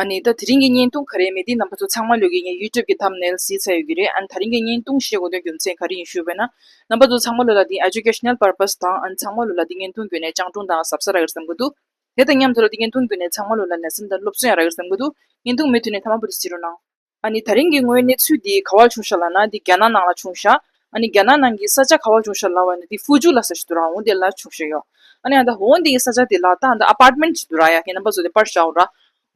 ཨ་ནི་ད་དེ་རིང་གི་བརྙན་ཐུང་ག་རེའི་མི་དེའི་རྣམ་པ་ཚོ་ཚང་མ་ལོས་ཀྱིས་ངའི YouTube གི Thumbnail བཟི་ཚར་ཡོད་ཀྱི་རེད་ཨ་ནི་ད་རིང་གི་བརྙན་ཐུང་བཞེས་དགོས་དོན་རྒྱུ་མཚན་ག་རེ་ཡིན་ཞུས་པས་ན། རྣམ་པ་ཚོ་ཚང་མ་ལོས་ལ་འདི Educational Purpose དང་ཨ་ནི་ཚང་མ་ལོས་ལ་འདི་བརྙན་ཐུང་བརྒྱུད་ནས་སྤྱང་གྲུང་དང་ཟབ་ས་རག་གིར་བསམ་གི་འདུག་དེ་དང་མཉམ་དུ་ལ་འདི་བརྙན་ཐུང་བརྒྱུད་ནས་ཚང་མ་ལོས་ལ་ལས་སེམས་དང་སློབ་གསོ་ཡང་རག་གིར་བསམ་གི་འདུག་བརྙན་ཐུང་མི་མཐུད་ནས་མཐའ་མ་བུ་དེ་བཟི་རོགས་གནང། ཨ་ནི་ད་རིང་གི་དངོས་གནས་ཚུལ་འདི་ག་བར་བྱུང་ཤག་ལ་ན་འདི་རྒྱ་ནག་ནང་ལ་བྱུང་ཤག་ཨ་ནི་རྒྱ་ནག་ནང་གི་ས་ཆ་ག་བར་བྱུང་ཤག་ལ་བ་ན་འདི་ཧྥུའུ་ཇུ་ལ་ས་ཞིག་ཏུ་རང་འོང་དེ་ལ་བྱུང་ཤག་ཡོག་ཨ་ནི་ཨ་ད་འོང་འདི་གི་ས་ཆ་དེ་ལ་ད་འདི་ཨ་པར་མེན་ཞིག་ཏུ་ར་ཡ་ཁྱེད་རྣམ་པ་བཟོ་དེ་པར་ཤག་འོ་ར་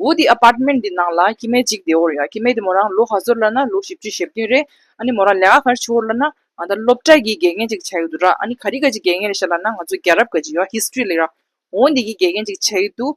འོ་འདི་ཨ་པར་མེན་འདི་ནང་ལ་ཁྱི་མེད་ཅིག་བདེ་འོ་ར་ཡ་ཁྱི་མེད་དེ་མོ་རང་ལོ་ག་ཟོར་ལ་ན་ལོ་བཞི་བཅུ་ཞེ་བདུན་རེད་ཨ་ནི་མོ་རང་ལས་ཀ་ག་རེ་བྱོ་འོ་ར་ན་ཨ་ད་སློབ་གྲྭ་གི་དགེ་རྒན་ཅིག་བྱ་ཡི་འདུག་ར་ཨ་ནི་ག་རི་ག་ཅིག་དགེ་རྒན་རེད་ཤག་ལ་ན་ང་ཚོ་རྒྱལ་རབས་ག་ཅིག་ཡོག་ཧིས་ཏྲི་ལེགས་ར་འོ་འདི་གི་དགེ་རྒན་ཅིག་བྱ་ཡི་འདུག།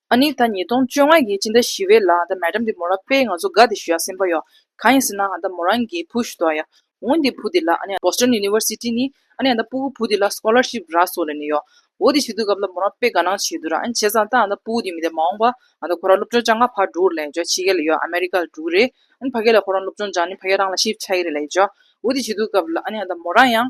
ཨ་ནི་ད་ཉིས་སྟོང་བཅོ་ལྔའི་ཡི་ཅི་འདྲ་ཞི་བའི་ལགས་ད་མལ་དྲམ་དེ་མོ་རང་པས་ང་ཚོ་དགའ་དེ་ཞུ་ཡག་སེམས་པ་ཡོག་གང་ཡིན་ཟེར་ན་ཨ་ད་མོ་རང་གིས་བུ་ཞུ་དོག་ཡག་འོ་འདི་བུ་དེ་ལགས་ཨ་ནི Boston University ནི་ཨ་ནི་ཨ་ད་སྤུ་གུ་བུ་དེ་ལགས Scholarship རགས་སོགས་ལེན་ནི་ཡོག་འོ་དེ་ཞུ་དུས་སྐབས་ལ་མོ་རང་པས་དགའ་སྣང་བྱེད་དུས་རང་ཨ་ནི་བྱས་ཙང་ད་ཨ་ད་སྤུ་གུ་དེ་མི་དེ་མ་འོང་པ་ཨ་ད་ཁོ་རང་སློབ་སྤྱོང་ཅང་ག་ཕར་འགྲོ་འུར་ལེན་ཡོག་ཕྱི་རྒྱལ་ལ་ཡོག America ལ་འགྲོ་གི་རེད་ཨ་ནི་ཕ་སྐད་ལ་ཁོ་རང་སློབ་སྤྱོང་ཅང་ནི་ཕ་སྐད་རང་ལ Shift ཆགས་ཀྱི་རེད་ལ་ཡོག་འོ་དེ་ཞུ་དུས་སྐབས་ལ་ཨ་ནི་ཨ་ད་མོ་རང་ཡང།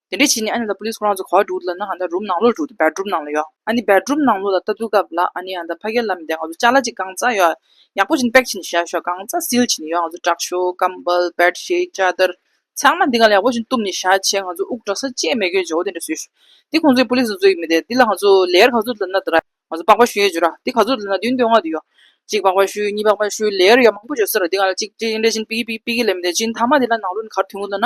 དེ་འདྲའི་བྱས་ནས་ཨ་ནི་ལ་པོ་ལིས་ཁོ་རང་ཚོ་ག་བ་འགྲུག་འདུག་ལབ་ན་ཨ་ནི་རུམ་ནང་ལོག་འགྲུག་འདུག་བེར་སྒྲུབ་ནང་ལོག་ཡོད་ཨ་ནི་བེར་སྒྲུབ་ནང་ལོག་ལ་ལྟ་འདུག་སྐབས་ལ་ཨ་ནི་ཨ་ད་ཕ་གེ་ལ་མི་བདེ་ང་ཚོ་ལྕགས་ལ་ཅིག་གང་བཙའ་ཡོད་ཡག་པོ་བྱིན་པེག་བྱིན་བཞག་ཤོག་གང་བཙའ་སིལ་བྱིན་ཡོད་ང་ཚོ་དྲག་ཤོ་སྐམ་པལ་བེར་ཤེལ་ལྕགས་དར་ཚང་མ་འདི་ག་ལ་ཡག་པོ་བྱིན་གཏུབ་ནས་བཞག་བྱས་ང་ཚོ་དབུགས་དྲག་ས་བཅད་མེད་གྱོད་བྱོ་དེ་འདྲ་བཟོས་ཤོག་འདི་ཁོང་ཚོའི་པོ་ལིས་ཚོ་ཚོའི་མི་དེ་འདི་ལ་ང་ཚོ་ལེའར་ག་ཚོད་ལབ་ན་འདི་ར་ང་ཚོ་པགས་པ་བཤུས་བྱོ་ར་འདི་ག་ཚོད་ལབ་ན་བདུན་བདུན་ལྔ་དུ་ཡོད་གཅིག་པགས་པ་བཤུས་གཉིས་པགས་པ་བཤུས་ལེའར་ཡོད་མང་པོ་བྱོ་ས་ར་འདི་ག་ལ་ཅིག་ཅིག་འདྲ་བྱིན་པིག་གེ་པིག་པིག་གེ་ལ་མི་བདེ་བྱིན་ཐ་མ་འདི་ལ་ནང་ལོག་ནས་གར་ཐུང་ངུ་ལབ་ན་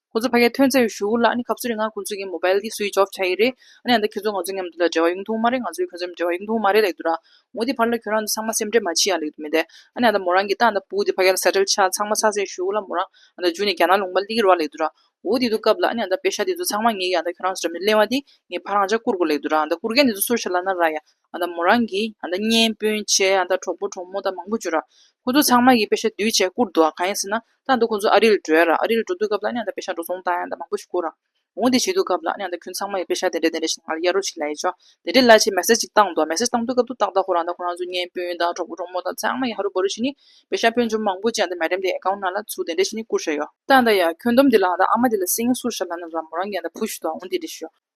ཁོ་ཚོས་ཕ་གའི་ཐོན་རྫས་ཞུ་གུ་ལ་ནི་གབ་ཚོད་རེ་ང་ཁོ་ཚོས་ཀྱི་མོ་པལ་གྱི་སུའི་ཇོབ་བྱ་ཡི་རེད་ཨ་ནི་ཨ་མདའ་ཁྱོད་ཚོ་ང་ཚོ་མཉམ་དུ་ལ་འབྲེལ་བ་ཡོང་ཐུང་མ་རེད་ང་ཚོས་ཁྱོད་ཚོ་མཉམ་འབྲེལ་བ་ཡོང་ཐུང་མ་རེད་ལེགས་འདུག་ར་ངོ་དེ་ཕར་ལ་ཁྱོད་རང་ཚོ་ཚང་མ་སེམས་ཁྲལ་མ་བྱེད་ཡ་ལེགས་འདུག་མི་འདའ་ཨ་ནི་ཨ་མདའ་མོ་རང་གི་ཏང་དང་པུའུ་དེ་ཕ་གའི་ལ་ཟ་བྲལ་ཆ་ཚང་མ་ཚགས་ཚེ་ཞུ་གུ་ལ་མོ་རང་ཨ་མདའ་འཇུས་ནས་རྒྱ་ནག་ལུང་པ་གླིག་གི་རུ་བ་ལེགས་འདུག་ར་འོ་དེ་དུས་སྐབས་ལ་ཨ་ནི་ཨ་མདའ་པེ་ཤ་དེ་ཚོ་ཚང་མ་ངེད་ཀྱི་ཨ་མདའ་ཁྱོད་རང་ཚོ་འདྲ་མིན་གླེང་བ་དེ་ངེད་ཕ་རང་ཅག་བཀུར་དགོས་ལེགས་འདུག་ར་ཨ་མདའ་བཀུར་མཁན་དེ་ཚོ་སུ་ཞིག་ལ་ན་ར་ཡ། མོ་རང་གི་གཉེན་སྤུན་མཆེད་གྲོགས་པོ་གྲོགས་མོ་དག་མང་པོ་འབྱོར། ཁོ་ཚོ་ཚང་མ་ཡིས་དཔེ་ཆ་འདུས་བྱས་བསྐུར་འདུག་གང་ཡིན་ཟེར་ན། ད་ནི་ཁོ་ཚོ་ཨ་རིར་བྲོས། ཨ་རིར་འགྲོ་དུས་སྐབས་ལ་དཔེ་ཆ་འགྲོ་སོང་དང་མང་པོ་ཞིག་བསྐུར། འོང་དེ་བྱེད་དུས་སྐབས་ལ་ཁྱོད་ཚང་མ་ཡིས་དཔེ་ཆ་དེ་འདྲ་དེ་འདྲ་ཞིག་ང་ལ་གཡར་རོགས་ཞེས་ལ་ཡིས་བྱོ། དེ་འདྲའི་ལ་ཅེས་མེ་སྲེ་ཅིག་བཏང་འདུག་མེ་སྲེ་བཏང་དུས་སྐབས་དུ་ཏག་ཏག་ཁོ་རང་དང་ཁོ་རང་ཚོའི་གཉེན་སྤུན་དང་གྲོགས་པོ་གྲོགས་མོ་དག་ཚང་མ་ཡིས་ཧ་རུ་བོ་རུ་ཞིག་ནི་དཔེ་ཆ་དཔོན་ཆུང་མང་པོ་ཅིག་མལ་འགྲམ་དེའི་ཨེ་ཀའུ་ན་ལ་ཚུར་དེ་འདྲ་ཞིག་ནི་བསྐུར་བཞག་ཡོད། ད་ཡང་ཁྱོད་འདོམ་དེ་ལ་ཨ་མ་དེ་ལ་སེང་ངེ་སུར་བཞག་ལ་ན་ར་མོ་རང་གིས་ཕུ་བཞུ་དང་འོང་དེ་འདྲ་ཞུ།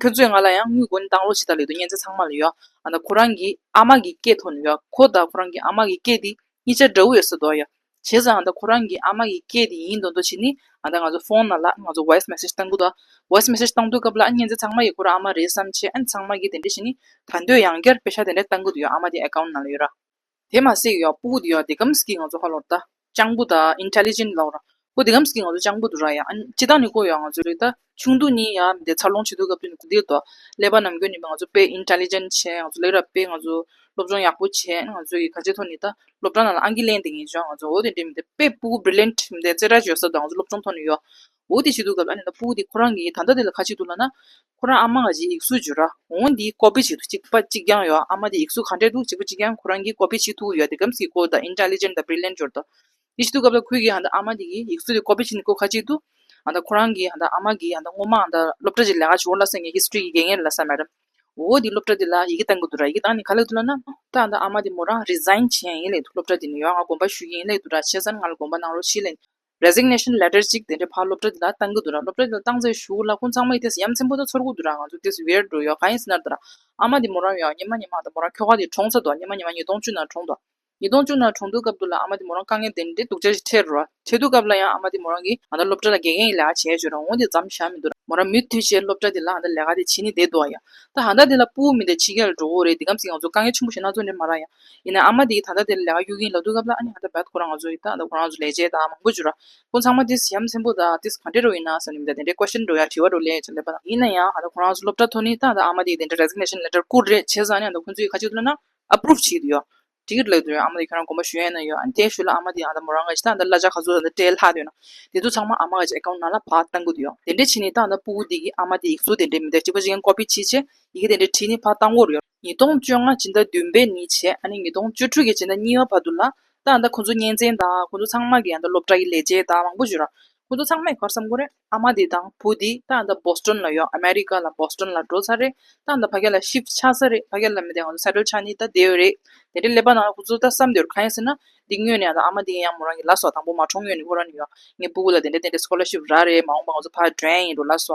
ཁྱོད་ཚོས་ང་ལ་ཡང་དངུལ་སྒོར་འདང་ལོག་བྱེད་ཐབས་ལེགས་འདུག་སྙན་ཚིག་ཚང་མ་ལ་ཡོད། ཁོ་རང་གི་ཨ་མ་གི་སྐད་ཐོག་ནས་ཡོད། ཁོ་དང་ཁོ་རང་གི་ཨ་མ་གི་སྐད་དེ་གཉིས་ཆ་འདྲ་བོ་ཡོད་ས་རྡོག་ཡོད། བྱས་ཙང་ཁོ་རང་གི་ཨ་མ་གི་སྐད་དེ་ཡིན་དོན་དུ་ཕྱིན་ནས་ང་ཚོ་ཕོན་ནང་ལ་ང་ཚོ voice message གཏང་གི་འདུག voice message གཏང་དུས་སྐབས་ལ་སྙན་ཚིག་ཚང་མ་ཡིས་ཁོ་རང་ཨ་མ་རེད་བསམ་ཆེད་ཚང་མ་གིས་དེ་འདྲས་བྱས་ནས་ད་འདོད་ཡང་བསྐྱར་དཔེ་ཆ་དེ་འདྲས་གཏང་གི་འདུག་ཨ་མ་དེ account ནང་ལ་ཡོད་ར། དེ་མ་ཟེགས་ཡོག་པོ་ཀུ་དེ་ཡོག་དེ་ཀམ་སྐྱིད་ང་ཚོ་ཧ་ལོར་ད་སྤྱང་པོ་ད intelligent ལོག་ར་ཀུ་དེ་ཀམ་སྐྱིད་ང་ཚོ་སྤྱང་པོ་དུ་ར་ཡ་ཨན་ཅི་ད་ནི་ཀོ་ཡོག་ང་ཚོ་རིག་ད་ཆུང་དུ་ནི་ཡ་མི་དེ་འཚར་ལོངས་བྱེད་དུ་སྐབས་དུ་ནི་ཀུ་དེ་དོ་ཀླད་པ་ནམ་གྱོན་ནི་པ་ང་ཚོ་དཔེ intelligent བྱས་ང་ཚོ་ལེགས་ར་དཔེ་ང་ཚོ་སློབ་སྦྱོང་ཡག་པོ་བྱས་ང་ཚོ་ཡི་ག་ཆེ་ཐོ་ནི་ད་སློབ་གྲ་ནང་ལ་ཨང་ཀི་ལེན་དེ་ངེས་བྱོ་ང་ཚོ་ཨོ་དེ་འདྲེ་མི་དེ་དཔེ་པུ་ཀུ brilliant མི་དེ་རྩེ་གྲ་བྱོ་ས་དུ་ང་ཚོ་སློབ་སྦྱོང་ཐོ་ནི་ཡོ་འོ་དེ་ཞིག་འདུག་གམ་ཨ་ནེ་ད་སྤུ་གུ་དེ་ཁོ་རང་གི་ད་ལྟ་དེ་ལ་ཁ་ཅིག་འདུག་ལ་ན། ཁོ་རང་ཨ་མ་ང་ཅིག་ཡིག་གཟུགས་བྱོས་ར། འོང་འདིའི་ཀོ་པེ་ཞིག་འདུག་ཅིག་པ་ཅིག་རྐྱང་ཡོད་ཨ་མ་དེ་ཡིག་གཟུགས་ག་འདྲས་འདུག་ཅིག་པ་ཅིག་རྐྱང་ཁོ་རང་གི་ཀོ་པེ་ཞིག་ཐུག་ཡོད་དེ་གམ་སི་ཀོ་དང Intelligent དང Brilliant སྦྱོར་དང། དེ་ཞིག་འདུག་གམ་ད་ཁོའི་གི་ཧ་ད་ཨ་མ་དེ་གི་ཡིག་གཟུགས་དེ་ཀོ་པེ་ཞིག་ནི་ཀོ་ཁ་ཅིག་འདུག་ཨ་ད་ཁོ་རང་གི་ཧ་ད་ཨ་མ་གི་ཧ་ད་སྔོན་མ་ཨ་ད་སློབ་གྲྭ་ཅིག་ལས་ཀ་བྱོས་འོང་ལ་སེང་གེ History གི་དགེ་རྒན་རེད་ལ་ས Madam། འོ་དེ་སློབ་གྲྭ་དེ་ལ་ཡི་གེ་བཏང་གི་འདུག་ར་ཡི་གེ་བཏང་ནས་ག་ལེགས་འདུག་ལ་ན། ད་ཨ་ད་ཨ་མ་དེ་མོ་རང Resign བྱས་ཡིན་ལེགས་འདུག་སློབ་གྲྭ་དེ་ནས་ཡོང་ང་དགོངས་པ་ཞུ་གིན་ཡིན་ལེགས་འདུག་ར་བྱས་ཙང་ང་ལ་དགོངས་པ་གནང་རོགས་ཞེས་ལན། Resignation Letter གཅིག་དེ་འདྲ་ཕར་སློབ་གྲྭ་འདི་ལ་བཏང་གི་འདུག་ར་སློབ་གྲྭ་འདི་ལ་བཏང་ཚེ་བཞུགས་ལ་ཀུན་ཚང་མ་ཡི་དེ་ཟེར་ཡ་མཚན་པོ་དང་ཚོར་གུ་འདུག་ར་ང་ཚོ་དེ་ཟེར་བེར་འགྲོ་ཡོད་གང་ཡིན་ཟེར་ན་འདུག་ར་ཨ་མ་དེ་མོ་རང་ཡོད་ཨ་ཉི་མ་ཉི་མ་དང་མོ་རང་ཁྱོ་ག་དེ་གྲོངས་ཚར་འདུག་ར་ཉི་མ་ཉི་མ་ཉིས་སྟོང་བཅུ་ནང་གྲོངས་འདུག་ར་ཉིས་སྟོང་བཅུ་ནང་གྲོངས་འདུག་སྐབས་འདུག་ལ་ཨ་མ་དེ་མོ་རང་དཀའ་ངལ་དེ་འདྲ་སྡུག་ཅག་ཅིག་འཕྲད་འགྲོ་ར་འཕྲད་འདུག་སྐབས་ལ་ཡང་ཨ་མ་དེ་མོ་རང་གིས་ང་ད་སློབ་གྲྭ་ལ་དགེ་རྒན་ཡི་ལས་ཀ་བྱས་བྱོས་ར་འོན་ཏེ་འཛམ་བཞག་མི་འདུག་ར་མོ་རང་མུ་མཐུད་ཆེད་སློབ་གྲྭ་འདི་ལ་ཨ་ད་ལས་ཀ་དེ་བྱེད་ནི་བསྡད་འདུག་ཨ་ཡ་ད་ཧ་ད་དེ་ལ་སྤུ་བོ་མི་འདྲ་ཕྱི་རྒྱལ་ལ་འགྲོ་འོ་རེད་འདི་གམ་ཟིག་ང་ཚོ་དཀའ་ངལ་ཆེན་པོ་ཞིག་ན་ཚོད་འདྲེ་མ་ར་ཡ་ཡིན་ནའང་ཨ་མ་དེ་ཡིས་ད་ལྟ་དེ་ལས་ལས་ཀ་གཡུག་གིན་ལབ་འདུག་སྐབས་ལ་ཨ་ནེ་ད་བལྟ་ཁོ་རང་ང་ཚོ་ཡི་ད་ལྟ་ཁོ་རང་ང་ཚོ་ལས་བྱེད་དང་མང་པོ་བྱུ་ར། ཁོ་ཚང་མ་དེ་ཞབས་མཚན་པོ་དང་དེ་གང་འདྲའི་རོགས་ཡིན་ནའང་ཟེར་ནས་མི་ད་དེ་འདྲའི་ཀོ་ཤེར་འགྲོ་ཡ་དྲི་བ་འདྲོ་ལས་ཅེས་ལབ་པ་དང་ཡིན་ན་ཡང་ད་ལྟ་ཁོ་རང་ང་ཚོ་སློབ་གྲྭ་ཐོག་ནས་ད་ལྟ་ཨ་མ་དེ་ཡིས་དེ་འདྲའི Resignation Letter བསྐུར་རེད་བྱས་ཙང་ནས་ད་ཁོ་ཚོ་ཡིས་ཁ་གཅིག་ཏུ་བསླེབས་ན Approve བྱེད་ཀྱི་ཡོད། དེ་གི་ལས་དོན་ཨ་མ་དེ་ཁྱོད་རང་དགོངས་པ་ཞུ་ཡས་ན་ཡོད་ཨ་ནེ་དེ་ཞུས་ལ་ཨ་མ་དེ་ཡང་ད་མོ་རང་ང་ཞིག་ད་ད་གླ་ཆ་ག་ཚོད་ད་སྤྲད་ལྷག་འདོད་ན་དེ་ཚོ་ཚང་མ་ཨ་མ་ང་ཅིག Account ནང་ལ་བག་གཏང་དགོས་ཀྱི་ཡོད་དེ་འདྲའི་ཕྱིན་ནས་ད་ད་སྤུ་བོ་དེ་གིས་ཨ་མ་དེ་ཡིག་གཟུགས་དེ་འདྲའི་མི་ད་གཅིག་པ་ཅིག་ཡིན Copy བྱས་རྗེས་ཡི་གེ་དེ་འདྲའི་བྲིས་ནས་བག་གཏང་དགོས་རེད། ཉིས་སྟོང་བཅོ་ལྔ་སྦྱིན་བདག་བདུན་པས་ནི་བྱས་ཨ་ནི་ཉིས་སྟོང་བཅོ་དྲུག་གི་སྦྱིན་བདག་གཉིས་པ་བར་དུ་ལ་ད་ཡང་ད་ཁོ་ཚོ་གཉེན་ཚན་དང་ཁོ་ཚོ་ཚང་མ་གི་ཡང་ད་སློབ་གྲྭ་གི་ལས་བྱེད་དང་མང་པོ་བྱོས་ར་ཁོ་ཚོ་ཚང་མས་གར་བསམ་ཁོ་རེ་ཨ་མ་དེ་དང་བུ་དེ་ད་ཡང་ད Boston ལ་ཡོད America ལ Boston ལ་འགྲོ་ཚར་རེད་ད་ཡང་ད་ཕ་སྐད་ལ Shift ཆགས་ཚར་རེད་ཕ་སྐད་ལ་མི་དེ་ང་ཚོ Settle ཆགས་ནི་ད་དེ་ཡོད་རེད་དེ་འདྲའི་སླད་པ་ན་ཁོ་ཚོ་ད་བསམ་དེ་རུ་གང་ཡིན་ཟེར་ན་འདི་ངོས་ནས་ཡང་ད་ཨ་མ་དེ་ཡང་མོ་རང་གི་ལ་སོ་དང་པོ་མ་འཁྲུངས་ངོས་ནས་ཁོ་རང་ནི་ཡང་ངའི་སྤུ་གུ་ལ་དེ་འདྲ་དེ་འདྲའི Scholarship རག་རེད་མ་འོངས་པ་ང་ཚོ་ཕ་བགྲོན་ཡིན་འགྲོ་ལ་སོ་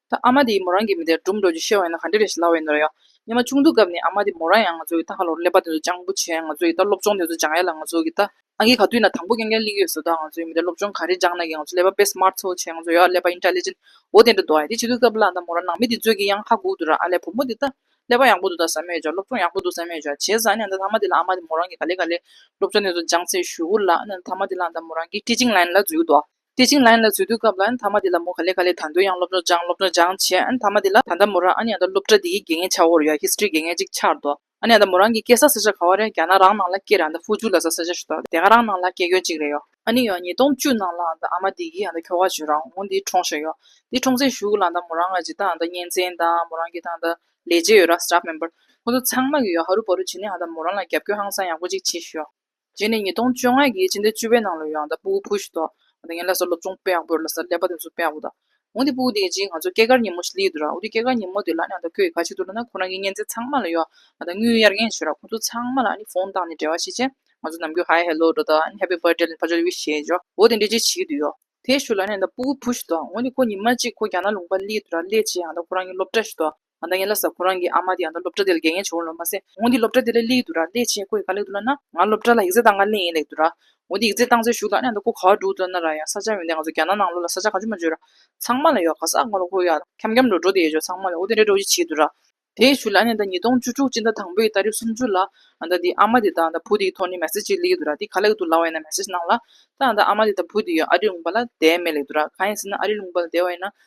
ད་ཨ་མ་དེ་ཡིས་མོ་རང་གི་མི་དེར་སྦྲུམ་འགྲོ་རྒྱུ་ཤེས་བ་ཡིན་ན་ག་འདྲ་རེད་ཞེས་ལབ་བས་ནོར་ཡོད། ཉི་མ་ཆུང་དུས་སྐབས་ནས་ཨ་མ་དེ་མོ་རང་ཡང་ང་ཚོ་གི་ད་ཧ་ལོར་ཀླད་པ་དེ་ཚོ་སྤྱང་པོ་བྱས་ང་ཚོ་ཡི་ད་སློབ་སྦྱོང་དེ་ཚོ་སྦྱང་ཡ་ལ་ང་ཚོ་གི་ད་ཨ་ཁྱེད་ག་དུས་ན་དང་པོ་རྐྱང་རྐྱང་གླིང་ཡོད་ཟོ་ད་ང་ཚོ་ཡི་མི་དེར་སློབ་སྦྱོང་ག་རེ་སྦྱང་ན་གི་ང་ཚོ་ཀླད་པ་དཔེ་སྨར་ཚོ་བྱས་ང་ཚོ་ཡོད་ཨ་ཀླད་པ Intelligent འོ་དེ་འདྲ་འདུག་ཨ་ཡ་དེ་བྱེད་དུས་སྐབས་ལ་ད་མོ་རང་ནང་མི་དེ་ཚོས་གི་ཡང་ཧ་གོ་དུས་ར་ཨ་ལས་བུ་མོ་དེ་ད་ཀླད་པ་ཡག་པོ་འདུག་ད་ཟ་མོད་ཀྱང་སློབ་སྦྱོང་ཡག་པོ་འདུག་ཟ་མོད་ཀྱང་བྱས་ཟ་ཨ་ནས་ད་ད་མ་དེ་ལ་ཨ་མ་དེ་མོ་རང་གི་ག་ལེ་ག་ལེ་སློབ་སྦྱོང་དེ་ཚོ་སྦྱང་ཚེ་ཞུ་གུ་ལ་ཨ་ནས་ད་མ་དེ་ལ་ད་མོ་རང་གི Teaching Line ལ་འཛུལ་ཡོད་དོ། དེ་བྱིངས་ལ་ཡིན་ལ་འཚོལ་བསྡུའི་སྐབས་ལ་ཡིན་དྷརྨ་དེ་ལ་མོ་ག་ལེ་ག་ལེ་དང་དོད་ཡང་སློབ་གྲྭར་སྦྱངས་སློབ་གྲྭར་སྦྱངས་བྱས་ཨན་དྷརྨ་དེ་ལ་ད་ལྟ་མོ་རང་ཨ་ནེ་ཨ་ད་སློབ་གྲྭ་དེའི་དགེ་རྒན་ཆ་བོར་ཡོད History དགེ་རྒན་གཅིག་ཆར་འདུག་ཨ་ནེ་ཨ་ད་མོ་རང་གི་སྐད་ས་ས་ཆ་ག་བ་རེད་རྒྱ་ནག་རང་ནང་ལ་སྐད་རེད་ཨ་ད་ཧྥུ་ཇུ་ལ་ས་ས་ཆ་ཞིག་འདུག་དེ་ག་རང་ནང་ལ་སྐད་རྒྱོན་གཅིག་རེད་ཡོད། ཨ་ནེ་ཡོད་ཉིས་སྟོང་བཅུ་ནང་ལ་ཨ་ད་ཨ་མ་དེ་གིས་ཨ་ད་ཁྱོ་ག་ཆོས་རང་དབང་དེ་འཁྲོངས་བཞིན་ཡོད་དེ་འཁྲོངས་ཚེ་ཞུགས་ལ་ཨ་ད་མོ་རང་ང་ཇི་ལྟར་ཨ་ད་གཉེན་ཚན་དང་མོ་རང་གི་ཐང་ད་ལས་བྱེད་ཡོད་ར Staff Member ཁོང་ཚོ་ཚང་མ་གི་ཡོད་ཧ་རུ་པ་རུ་བྱས་ནས་ཨ་ད་མོ་རང་ལ་རྒྱབ་སྐྱོར་ཧང་སང་ཡག་པོ་གཅིག་བྱེད་བཞིན་ཡོད། རྗེས་ནས་ཉིས་སྟོང་བཅོ་ལྔ་ཡི་ཕྱི་ཟླ་བཅུ་པའི་ནང་ལོ་ཡང་དང་པོ་བུ་ཞིག་ཐོག་ང་ལ་སོགས་སློབ་སྦྱོང་སྤེལ་བ་པོ་ལ་སོགས་ལས་པ་དེ་ཚོ་སྤེལ་བ་པོ་དང། འོན་ཏེ་པུའུ་དེའི་རྗེས་ང་ཚོ་སྐྱེས་སྐར་ཉིན་མོ་ཞིག་ལས་དུས་རག་འོ་དེ་སྐྱེས་སྐར་ཉིན་མོ་དེ་ལ་ཡང་དང་ཁོས་ག་ཕྱིར་དུ་ལ་ན་ཁོ་རང་གི་གཉེན་ཚན་ཚང་མ་ལ་ཡོ་ང་དང་དངུལ་གཡར་ངེས་ཞུས་རག་ཁོ་ཚོ་ཚང་མ་ལ་ནི་ཕོང་བཏང་ནས་འབྲེལ་བ་བྱེད་ཆེད་ང་ཚོ་ནམ་རྒྱུན་ཧའེ་ཧེ་ལོ་ཀྲོ་དང་ཨ་ནི Happy Birthday ལ་ཕར་ཆོད་བྷི་ཞེས་བརྗོད་འོ་དེ་འདྲའི་རྗེས་བྱེད་ཀྱི་དུས་ཡོ་དེ་ཞུ་ལ་ཡང་དང་པོ་བུ་ཞིག་ཐོག་འོན་ཏེ་ཁོ་ཉིན་མ་གཅིག་ཁོ་རྒྱ་ནག་ལུང་པར་སླེབས་དུས་རག་སླེབས་རྗེས་ཡང་དང་པོ་ཁོ་རང་གི་སློབ་གྲྭ་ཞིག་ཐོག་ང་ད་ངའི་ལ་ཟ་ཁོ་རང་གི་ཨ་མ་དེ་ཡང་ད་སློབ་གྲྭ་དེ་ལ་དགེ་རྒན་བྱེད་འོང་ལོ་མ་ཟད་ཁོང་གི་སློབ་གྲྭ་དེ་ལ་གླེགས་འདུག་ར་ལས་ཆེས་ཁོ་ཡི་ག་ལེགས་འདུག་ལ་ན་ང་སློབ་གྲྭ་ལ་ཡིག་རྩེ་བཏང་ག་གླེང་ཡིན་ལེགས་འདུག་ར་འོ་དེ་ཡིག་རྩེ་བཏང་ཚེ་བཞུགས་ལ་ཨ་ནེ་ད་ཁོ་ག་འགྲོ་འདུག་ལ་ན་ར་ཡང་ས་ཆ་མིན་ཏེ་ང་ཚོ་རྒྱ་ནག་ནང་ལོགས་ལ་ས་ཆ་ག་ཅུ་མ་བརྗོད་ར་ཚང་མ་ལ་ཡོད་ག་ས་ང་ལ་ཁོ་ཡ་འཁྱམ་འཁྱམ་འགྲོ་འགྲོ་དེ་ཡོད་ཆོག་ཚང་མ་ལ་འོ་དེ་རེད་འགྲོ་ཅི་བྱེད་འདུག་ར། དེ་ཡི་ཤུལ་ལ་ཨ་ནེ་ད་ཉིས་སྟོང་བཅུ་དྲུག་སྤྱི་ཟླ་དང་པོ་ཡི་ད་རེབ་སུམ་ཅུ་ལ་ང་ད་དེའི་ཨ་མ་དེ་ད་ང་ད་བུ་དེ་ཡི་ཐོག་ནས་མེ་སི་ཅིག་གླེགས་འདུག་ར་དེ་ག་ལེགས་འདུག་ལ་བ་ཡིན་ན་མེ་སི་ཅི་གནང་ལ་ད་ང་ད་ཨ་མ་དེ་ད་བུ་དེ་ཡི་ཨ་རི་ལུང་པ་ལ་བསྡད་མེད་ལེགས་འདུག་ར་གང་ཡིན་ཟེར་ན་ཨ་རི་ལུང་པ་ལ་བསྡད་བ་ཡིན་ན་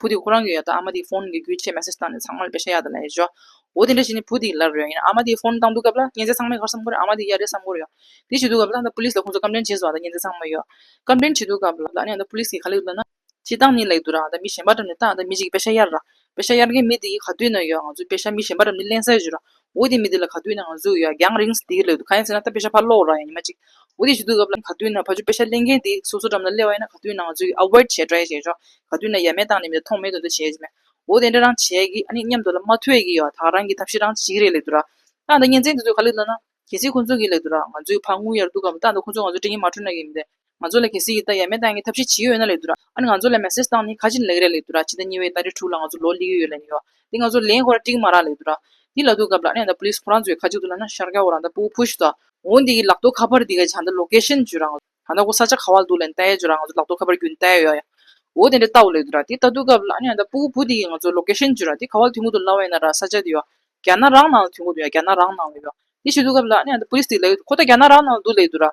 བུ་དེ་ཁོ་རང་གི་ཡོད་དོ་ཨ་མ་དེའི་ཕོན་གི་རྒྱུ་ཆས་མེ་སེར་བཏང་ནས་ཚང་མ་ལ་བེ་ཤ་ཡག་དེ་ལ་ཡེ་ཞོ། འོ་དེ་འདྲ་བྱས་ནས་བུ་དེའི་ལར་རོལ་ཡིན་ཨ་མ་དེའི་ཕོན་བཏང་འདུག་སྐབས་ལ་སྙན་ཚད་ཚང་མའི་ཁར་སམ་ཁོ་རང་ཨ་མ་དེའི་གཡའ་རེད་སམ་གོ་རེད་ཡོད། དེ་བྱེད་འདུག་སྐབས་ལ་ཨ་མདའ་པུ་ལིས་ལ་ཁོང་ཚོ་ཀམ་པྲན་བྱེད་བཟོ་བ་དང་སྙན་ཚད་ཚང་མ་ཡོད། ཀམ་པྲན་བྱེད་འདུག་སྐབས་ལ་ཨ་མདའ་པུ་ལིས་ཀྱིས་ག་ལེགས་འདུག་ན། ཅི་སྟངས་ནས་ལེགས་འདུག་ར་ཨ་མདའ་མི་གཞན་པ་འགྲམ་ནས་ལྟ་ཨ་མདའ་མི་གཅིག་གིས་བེ་ཤ་གཡར་ར། བེ་ཤ་གཡར་མཁན་མི་དེ་གིས་ག་དུས་ན་ཡོད་ང་ཚོས་བེ་ཤ་མི་གཞན་པ་འགྲམ་ནས་གླེང་ས་ཞུ་ར། འོ་དེ་མི་དེ་ལ་ག་དུས་ན་ང་གཟུགས་ཡོད་ཨ་རྒྱང་རིང་སུ་དེའི་སླད་དུ་གང་ཡིན་ཟེར་ན་ད་དཔེ་ཆ་ཕར་སློག་རོགས་ཡང་ཉི་མ་གཅིག་འོ་དེ་ཞུ་དུས་སྐབས་ལ་ག་དུས་ན་ཕ་ཆུ་དཔེ་ཆ་གླེང་མཁན་དེ་སོ་སོ་འགྲམ་ན་སླེ་བ་ཡིན་ན་ག་དུས་ན་ང་གཟུགས་ཡོད་ཨ་ཝེར་བྱས་བྲོ་ཡ་བྱས་ཆོག་ག་དུས་ན་ཡ་མེད་བཏང་ནས་མི་དེ་མཐོང་མེད་དུ་འདུག་བྱས་ཆོག་འོ་དེ་འདྲ་རང་བྱས་ཀི་ཨ་ནི་སྙམ་དུ་ལ་མ་ཐོས་ཀི་ཡོད་ཨ་ད་རང་གི་ཐབས་ཤེས་རང་གཅིག་རེད་སླད་དུ་ར། ད་ལྟ་གཉེན་ཚན་དེ་ཚོས་ག་ལེ་བསློད་ན། གལ་སྲིད་ཁོ་ཚོ་གི་སླད་དུ་ར་ང་གཟུགས་ཡོད་ཕ་དངུལ་ཡར་བསྡུ་སྐབས་ད་ལྟ་ཁོ་ཚོས་ང་གཟུགས་དྲི་ངན་མ་འཁྲུལ་ན་ཡིན་མི་འདོད། ང་ཚོ་ལ་གལ་སྲིད་ཀྱི་ལྟ་ཡ་མེད་སྟངས་ཀྱི་ཐབས་ཤེས་ཇི་ཡོད་ཡོད་ན་ལེགས་འདུག་ཨ་ནི་ང་ཚོ་ལ་མེ་སྲེག་སྟངས་ནི་ཁ་ཅིག་ནི་ལེགས་རེད་ལེགས་འདུག་ཕྱི་ཟླ་གཉིས་པའི་ཟླ་རེ་དྲུག་ལ་ང་ཚོ་ལོ་ལེགས་ཡོད་ཡོད་ལེན་ཡོད། དེ་ང་ཚོ་ལེན་ཁོ་ར་ཀྲིག་མ་རག་ལེགས་འདུག་ར། དེ་ལ་ཐུག་སྐབས་ལ་ཨ་ནི་ད Police ཁོ་རང་ཚོའི་ཁ་ཅིག་ཏུ་ལ་ན་ཤར་ཀ་བོ་རང་ད་པུའུ Push དང། འོ་འདི་གི་ལག་ཐོག་ཁ་པར་འདི་ག་ཇི་ད Location བཅུ་རང། ད་ད་ཁོ་ས་ཆ་ག་བ་ལ་འདུག་ལན་ལྟ་ཡ་བཅུ་རང་ང་ཚོ་ལག་ཐོག་ཁ་པར་བརྒྱུད་ནས་ལྟ་ཡ་ཡོད་ཡ། འོ་དེ་འདྲ་ལྟ་བོ་ལེགས་འདུག་ར། དེ་ད་ཐུག་སྐབས་ལ་ཨ་ནི་ད་པུའུ་བུ་འདི་གི་ང་ཚོ Location བཅུ་ར་དེ་ག་བ་ལ་ཐུག་མུ་འདུག་ལ་བས་ན་ར་ས་ཆ་དེ་ཡོད། རྒྱ་ན་རང་ནང་ལ་ཐུག་མུ་འདུག་ཡ་རྒྱ་ན་རང་ནང་ལ་ཡོད། དེ་ཤི་ཐུག་སྐབས་ལ་ཨ་ནི་ད Police འདི་ག་ལེགས་འདུག་ཁོ་ད་རྒྱ་ན་རང་ནང་ལ་འདུག་ལེགས་འདུག་ར།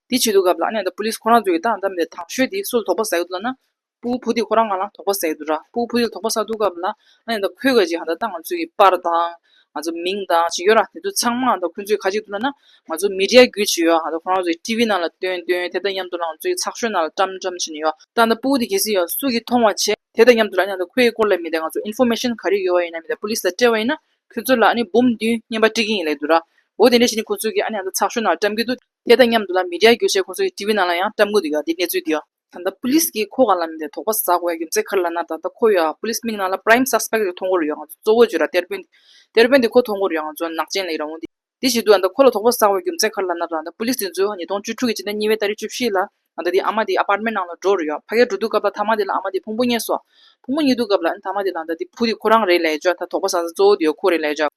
དེའི་ཆེད་དུ་གབ་ལ་ཨ་ནེ་དང་པུ་ལིས་ཁོ་རང་ཚོ་ཡི་ད་ཨ་འདམ་ནས་དྭངས་ཤོས་དེའི་སུ་ལ་དོགས་པ་ཟ་གི་འདུག་ལབ་ན། པུའུ་བུ་དེ་ཁོ་རང་ང་ལ་དོགས་པ་ཟ་གི་འདུག་དྲ་པུའུ་བུ་དེ་ལ་དོགས་པ་ཟ་འདུག་གབ་ལ་ཨ་ནེ་དང་ཁོའི་ཁ་ཅིག་ཧ་ད་ད་ང་ཚོའི་ཡི་པར་དང། ང་ཚོ་མིང་དང་ཅིག་ཡོད་ར་དེ་ཚོ་ཚང་མ་ཨ་ད་ཁོའི་ཚོའི་ཁ་ཅིག་འདུག་ལབ་ན། ང་ཚོ་མི་རྒྱལ་རྒྱུ་ཅིག་ཡོད་ཨ་ད་ཁོ་རང་ཚོ་ཡི་ཏི་བི་ནང་ལ་སྟོན་སྟོན་དེ་དང་མཉམ་དུ་ལ་ང་ཚོའི་ཚགས་ཤོད་ནང་ལ་བཀྲམ་བཀྲམ་བྱེད་ནི་ཡོད། ད་ནི་པུའུ་དེ་གལ་སྲིད་ཡང་སུ་གིས་མཐོང་བ་བྱས་དེ་དང་མཉམ་དུ་ལ་ཨ་ནེ་དང་ཁོའི་སྐོར་ལ་མི་དེ་ང་ཚོ Information ག་རེ་ཡོད་བ་ཡིན་ན་མི་དེ་པུ་ལིས་ལ་སྤྲད་བ་ཡིན་ན་ཁོའི་ཚོ་ལ་ཨ་ནེ་འབུམ་བདུན་བརྙན་པ་སྤྲད་ཀྱི་ཡིན་ལེ་འདུག་ར་འོ་དེ་འདྲ་བྱས་ནི་ཁོ་ཚོ་གིས་ཨ་ནེ་ཨ་ད་ཚགས་ཤོད་ནང་ལ་བཀྲམ་གྱི་འདུག་དེ་དང་མཉམ་དུ་ལ་མི་རྒྱ་གྱོད་བྱས་ཁོ་ཚོའི་ཏི་བི་ནང་ལ་ཡང་བཀྲམ་དགོས་འདུག་ཡ་དེ་གནས་ཚུལ་འདི་ཡ། ད་ལྟ་པུ་ལིས་ཀྱིས་ཁོ་ག་ལ་མིན་ཏེ་དོགས་པ་ཟ་དགོས་ཡ་ཡོད་མཛད་ཁར་ལ་ན་ད་ལྟ་ཁོ་ཡ་པུ་ལིས་མིག་ནང་ལ Prime Suspect རེ་ཐོ་འགོར་ཡོད་ང་ཚོ་གཙོ་བོ་བརྗོད་ར་གཏེར་དཔོན་གཏེར་དཔོན་དེ་ཁོ་ཐོ་འགོར་ཡ་ང་ཚོ་ནག་ཅན་ལ་ཡི་རང་བོ་འདི་འདི་བྱེད་དུས་ད་ལྟ་ཁོ་ལ་དོགས་པ་ཟ་དགོས་ཡ་ཡོད་མཛད་ཁར་ལ་ན་ད་ལྟ་པུ་ལིས་དེ་ཚོས་ཉིས་སྟོང་བཅུ་དྲུག་གི་སྤྱི་ཟླ་གཉིས་པའི་ད་རེས་བཅུ་བཞི་ལ་ང་ད་དེའི་ཨ་མ་དེའི Apartment ནང་ལ་འགྲོ་རུ་ཡ་ཕ་གས་འགྲོ་འདུག་སྐབས་ལ་ཐ་མ་དེ་ལ་ཨ་མ་དེའི་ཕུང་པོ་རྙེད་སོ་ཕུང་པོ་རྙེད་འདུག་སྐབས་ལ་ཨ་མ་དེ་ལ་ད་དེའི་བུ་དེ་ཁོ་རང་རེད་ལ་ཡ་བརྗོད་ད་དོགས་པ་ཟ་ས་གཙོ་བོ་དེ་ཡོད་ཁོ་རེད་ལ་ཡ་བརྗོད།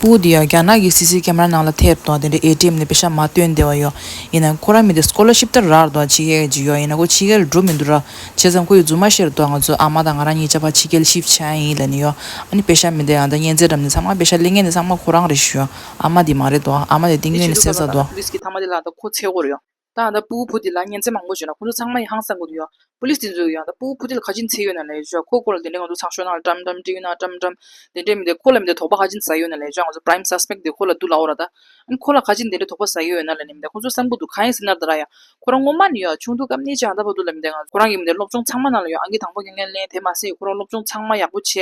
པོ་དེ་ཡང་རྒྱ་ནག་གི་སི་སི་ཀེ་མ་ར་ནང་ལ་ཐེབས་དང་དེ་འདྲའི་ཨེ་ཏེམ་ནས་བེ་ཤ་མ་སྟོན་བདེ་བ་ཡོད། ཡིན་ནའང་ཁོ་རང་མི་དེ་སྐོར་ལ་ཤིབ་ལྟར་རག་དང་ཕྱི་རྒྱལ་གྱི་ཡོད་ཡིན་ན་ཁོ་ཕྱི་རྒྱལ་ལ་འགྲོ་མི་འདུག་ར། བྱས་ཙང་ཁོ་ཡི་རྫུན་མ་བཤད་དོགས་ང་ཚོའི་ཨ་མ་དང་ང་རང་གཉིས་ཅག་ཕ་ཕྱི་རྒྱལ་ཤིབ་བྱས་ཡིན་ལ་ནི་ཡོད། ཨ་ནི་བེ་ཤ་མི་དེ་ཡང་ད་གཉན་ཚད་འགྲམ་ནས་ཚང་མ་བེ་ཤ་གླེང་མཁན་དེ་ཚང་མ་ཁོ་རང་རེད་ཞུ། ཨ་མ་དེ་མ་རེད་དོ། ཨ་མ་དེ་སྟེང་ངོས་ནས་གསལ་ས་དོ། ད་ང་ད་སྤུ་བོ་བུ་དེ་ལ་སྙན་ཚིག་མང་པོ་བརྗོད་ན་ཁོ་ཚོ་ཚང་མ་ཡང་ཧང་སངས་གི་འདུག་ཡང་པོ་ལིས་དེ་ཚོས་ཡང་ད་སྤུ་བོ་བུ་དེ་ལ་ཁ་ཅི་མཚེས་ཡོད་ན་ལས་བྱོས་ཁོ་སྐོར་ལ་དེ་འདྲས་ང་ཚོ་ཚང་ཤོག་ནང་ལ་དྲམ་དྲམ་འདྲིས་ཡོད་ན་དྲམ་དྲམ་དེ་འདྲས་མི་འདུག་ཁོ་ལ་མི་འདུག་དོགས་པ་ཁ་ཅི་ཟ་ཡོད་ན་ལས་བྱོས་ང་ཚོ prime suspect དེ་ཁོ་ལ་འདུག་ལ་འོ་ར་ད། འམ་ཁོ་ལ་ཁ་ཅི་འདི་འདྲས་དོགས་པ་ཟ་ཡོད་ཡོད་ན་ལས་ནི་མི་འདུག་ཁོ་ཚོ་བསམ་གི་འདུག་གང་ཡིན་ཟེར་ན་ད་ར་ཡང་ཁོ་རང་ངོ་མ་ནི་ཡང་ཆུང་དུས་སྐབས་ནས་ཅི་ཡང་ད་བར་འདུག་ལ་མི་འདུག་ང་ཁོ་རང་གི་མི་འདུག་སློབ་སྦྱོང་ཚང་མ་ནང་ལ་ཡང་ཨང་ཀི་དང་པོ་ངས་ལེན་དེ་མ་ཟད་ཁོ་རང་སློབ་སྦྱོང་ཚང་མ་ཡག་པོ་བྱས་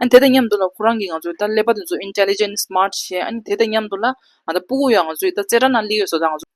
འམ་དེ་དང་མཉམ་དུ་ལ་ཁོ་རང་གིས་ང་ཚོའི་ད་ཀླད་པ་དེ་ཚོ intelligent smart བྱས་འམ་དེ་དང་མཉམ་དུ་ལ་ང་ད་སྤུ་བོ་ཡང་ང་ཚོའི་ད་རྩེ་གྲ་ནང་ཀླད་ཡོད་བཟོ་ད་ང་ཚོ།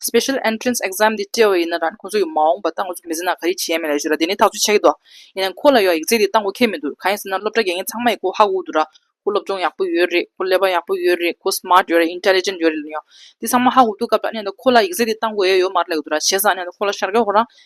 Special Entrance Exam འདི་བཀྲལ་བ་ཡིན་ན་རང་ཁོང་ཚོ་ཡོད་མ་འོངས་པ་ལྟ་ངོ་ཚོ་མི་ཟེར་ན་ག་རེ་བྱེད་ཡ་མེད་ལ་ཞུ་ར་དེ་ནི་ཐག་ཆོད་ཆགས་ཀྱི་འདུག་ཡིན་ནའང་ཁོ་ལ་ཡོད་ཡིག་ཚེག་དེ་བཏང་གོ་ཁེལ་མི་འདུག་གང་ཡིན་ཟེར་ན་སློབ་གྲྭ་དགེ་རྒན་ཚང་མ་ཡི་ཁོ་ཧ་གོ་འདུག་ར་ཁོ་སློབ་སྦྱོང་ཡག་པོ་ཡོད་རེད་ཁོ་ཀླད་པ་ཡག་པོ་ཡོད་རེད་ཁོ Smart ཡོད་རེད Intelligent ཡོད་རེད་ལ་ཡང་དེ་ཚང་མ་ཧ་གོ་འདུག་སྐབས་དང་གནས་ད་ཁོ་ལ་ཡིག་ཚེག་དེ་བཏང་གོ་ཡ་ཡོད་མ་རེད་ལ་ཡོད་ར་བྱས་ཙང་གནས་ད་ཁོ་ལ་ཤར་ཀྱང་ཁོ་རང་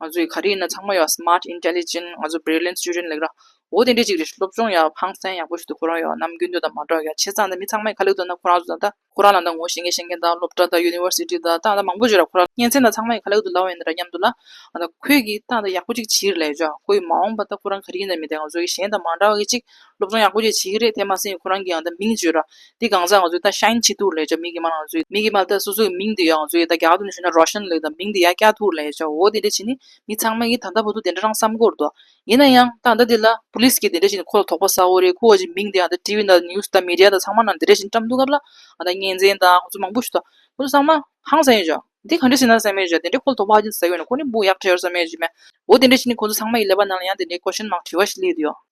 ང་ཚོས་ག་རེ་ཡིན་ན་ཚང་མ་ཡོད smart intelligent ང་ཚོ brilliant student ལེགས་ར་འོ་དེ་འདྲའི་ཅིག་རེད་སློབ་སྦྱོང་ཡག་ཕངས་སེམས་ཡག་པོ་ཞིག་ཏུ་ཁོ་རང་ཡོད་ནམ་རྒྱུན་དུ་ད་མ་གྲོགས་ཡ་ཁྱེད་ཚང་ད་མི་ཚང་མའི་ཁ་ལེགས་འདུག་ན་ཁོ་རང་ཚོ་ད་ཁོ་རང་ལ་ད་ངོ་ཤེས་མཁན་ཤེས་མཁན་ད་སློབ་གྲྭ་ད university ད་ད་མང་པོ་བྱོས་ར་ཁོ་རང་གཉེན་ཚན་ད་ཚང་མའི་ཁ་ལེགས་འདུག་ལ་འོན་ནི་ར་སྙམ་འདུག་ལ་ད་ཁོས་གིས་ད་ད་ཡག་པོ་ཅིག་བྱིས་རེད་ལ་ཡོད་ཆོག་ཁོ་ཡི་མ་འོངས་པ་ད་ཁོ་རང་ག་རེ་ཡིན་ན་མི་ད་ང་ཚོ་གིས་གཞན་ད་མ་འདྲ་བ་གིས་ཅིག་སློབ་སྦྱོང་ཡག་པོ་བཅས་བྱེད་ཀྱི་རེད་དེ་མ་ཟད་ཁོ་རང་གིའང་ད་མིང་བརྗོད་ར། འདི་གང་ཟག་ང་ཚོའི་ད་ཤཱིན་ཆི་ཐུའུ་ལེ་ཅཱ་མིག་གི་མ་ལག་ང་ཚོའི་མིག་གི་མ་ད་སོ་སོ་གི་མིང་དེ་ཡོད་ང་ཚོའི་ད་རྒྱ་གར་དུ་ནས་ཞུ་ན་རོ་ཤན་ལེ་ད་མིང་དེ་ཡ་ཀྱཱ་ཐུའུ་ལེ་ཅཱ་འོ་དེ་འདྲ་བྱས་ནས་མི་ཚང་མ་གིས་ད་ད་བུ་ཚོ་དེ་འདྲ་རང་བསམ་དགོས་རེད་དོ། ཡིན་ན་ཡང་ད་ད་དེ་ལ Police གིས་དེ་འདྲ་བྱས་ནས་ཁོ་ལ་དོགས་པ་ཟ་འོ་རེད་ཁོ་བ་ཅིག་མིང་དེ་ད TV དང News དང Media དང་ཚང་མ་ན་དེ་འདྲ་བྱས་ནས་བཀྲམ་འདུག་སྐབས་ལ་ད་བརྙན་འཛིན་དང་ཁོ་ཚོ་མང་པོ་ཞུ་ད་ཁོ་ཚོ་ཚང་མ་ཧང་ཟེར་ཡོད་ཅག་འདི་ག་འདྲ་བྱས་ན་བསམ་ཡོད་ཅག་དེ་འདྲ་ཁོ་ལ་དོགས་པ་ཧ་ཅིང་ཟ་གི་ཡོད་ན་ཁོ་ནི་བུ་ཡག་ཆགས་ཡོད་བསམ་ཡོད་ཅིག་མེད་འོ་དེ་འདྲ་བྱས་ནས་ཁོ་ཚོ་ཚང་མ་ཡི་ཀླད་པ་ནང་ལ་ཡང་དེ་འདྲའི Question Mark དྲི་བ་ཞིག་སླེབས་དུ་ཡོད།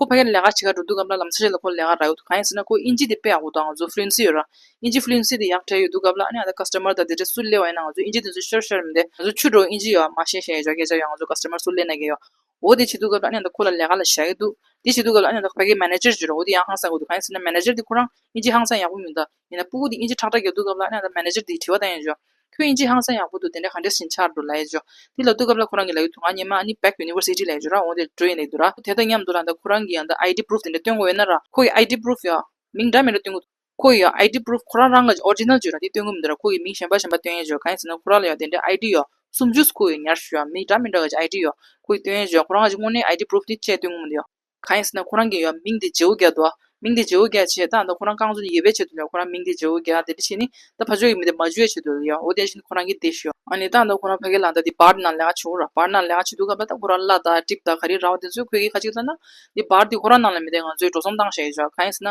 ཁོ་ཕ་གིར་ལས་ཀ་བྱེད་ཁར་འགྲོ་འདུག་གམ་ལ་ལམ་སེ་རེ་ལ་ཁོ་ལས་ཀ་རག་ཡོད་འདུག་གང་ཡིན་ཟེར་ན་ཁོ་དབྱིན་ཇི་དེ་དཔེ་ཡག་པོ་དང་ང་ཚོ་ཧྥུ་ལིན་སི་ཡོད་ར། དབྱིན་ཇི་ཧྥུ་ལིན་སི་དེ་ཡག་བྲལ་ཡོད་འདུག་གམ་ལ་ཨ་ནེ་ཨ་ད Customer དང་དེ་འདྲ་སུ་གླེ་བ་ཡིན་ན་ང་ཚོ་དབྱིན་ཇི་དེ་ཚོ་ཤོར་ཤོར་མི་བདེ། ང་ཚོ་ཆུ་འགྲོ་དབྱིན་ཇི་ཡོད་ཨ་མ་ཤེས་ཤེས་ཡོད་སྐད་ཆ་ཡོད་ང་ཚོ Customer སུ་གླེ་ན་གི་ཡོད། འོ་དེ་བྱེད་འདུག་གམ་ལ་ཨ་ནེ་ཨ་ད་ཁོ་ལ་ལས་ཀ་ལ་ཞག་གི་འདུག་དེ་བྱེད་འདུག་གམ་ལ་ཨ་ནེ་ཨ་ད་ཕ་གིའི Manager བརྗོད་རོགས་འོ་དེ་ཡང་ཧང་སངས་དགོས་འདུག་གང་ཡིན་ཟེར་ན Manager དེ་ཁོ་རང་དབྱིན་ཇི་ཧང་སངས་ཡག་པོ་མིན་ད། ཡིན་ན་སྤུ་གུ་དེ་དབྱིན་ཇི་ཁྲག་ཁྲག་གི་བསྡུ་སྐབས་ལ་ཨ་ན་མནེཇར་དེས་དྲི་བ་བཏང་ཡོད་ཅོ། ཁྱོད་དབྱིན་ཇི་ཧང་སང་ཡག་པོ་འདུག་དེ་འདྲ་ག་འདྲས་ཟིན་ཆགས་འདུག་ལ་ཡོད་ཅོ། དེ་ལ་བསྡུ་སྐབས་ལ་ཁོ་རང་གི་ལ་ཡོད་དུ་ང་ཉེ་མ་ཨ་ནི Back University ལ་ཡོད་ཅོ་ར་འོང་དེར་འགྲོ་ཡིན་ལ་ཡོད་དུ་ར། དེ་དང་མཉམ་དུ་ལ་འདའ་ཁོ་རང་གི་ཡང་འདའ ID Proof དེ་འདྲ་སྟོན་དགོས་ཡོད་ན་ར། ཁོ་གི ID Proof ཡང། མིང་འདྲ་མིན་ར་སྟོན་དགོས། ཁོ་གི་ཡང ID Proof ཁོ་རང་རང་གི་ཇི Original ཇོ་ར་དེ་སྟོན་དགོས་མི་འདུག་ར་ཁོ་གི་མིང་གཞན་པ་གཞན་པ་སྟོན་ཡོད་ཅོ་གང་ཡིན་ཟེར་ན་ཁོ་རང་ལ་ཡང་དེ་འདྲའི ID ཡང་སུམ་ཇུས་ཁོ་གི་ཉར་ཞུ་ཡང་མིང་འདྲ་མིན་ར་གི་ཇི ID ཡང་ཁོ་གི་སྟོན་ཡོད་ཅོ་ཁོ་རང་གི་ཇི་དངོས་གནས ID Proof དེ་བཅས་སྟོན་དགོས་མི་འདུག་ཡང། གང་ཡིན་ཟེར་ན་ཁོ་རང་གི་ཡོད་མིང་དེ་ཇེའུ་རྒྱ་དོ། མིང་དེ་ཇེའུ་རྒྱ་བྱས་ད་ད་ཁོ་རང་རྐང་བཙུན་ཡོད་པའི་ཆེད་དུ་ལས་ཁོ་རང་མིང་དེ་ཇེའུ་རྒྱ་དེ་འདྲ་བྱས་ནི་ད་ཕ་ཇོ་ཡི་མི་དེ་མ་ཇོའི་ཆེད་དུ་ལས་འོ་དེ་བཞིན་ཁོ་རང་གི་དེ་ཞོ། ཨ་ནི་ད་ད་ཁོ་རང་ཕ་གའི་ལ་ད་དེ་འབར་ན་ལས་ང་བྱེད་རོགས་འབར་ན་ལས་ང་བྱེད་དུ་ག་པ་ད་ཁོ་རང་བླ་དྭགས་གྲིབ་དྭགས་ག་རེ་ར་བ་དེ་ཚོས་ཁོས་གི་ཁ་གཅིག་ལྟ་ན། དེ་འབར་དེ་ཁོ་རང་རྣམས་ལ་མི་དེ་ང་ཚོས་འགྲོ་སོང་བཏང་ཞེས་བྱ་གང་ཡིན་ཟེར་ན།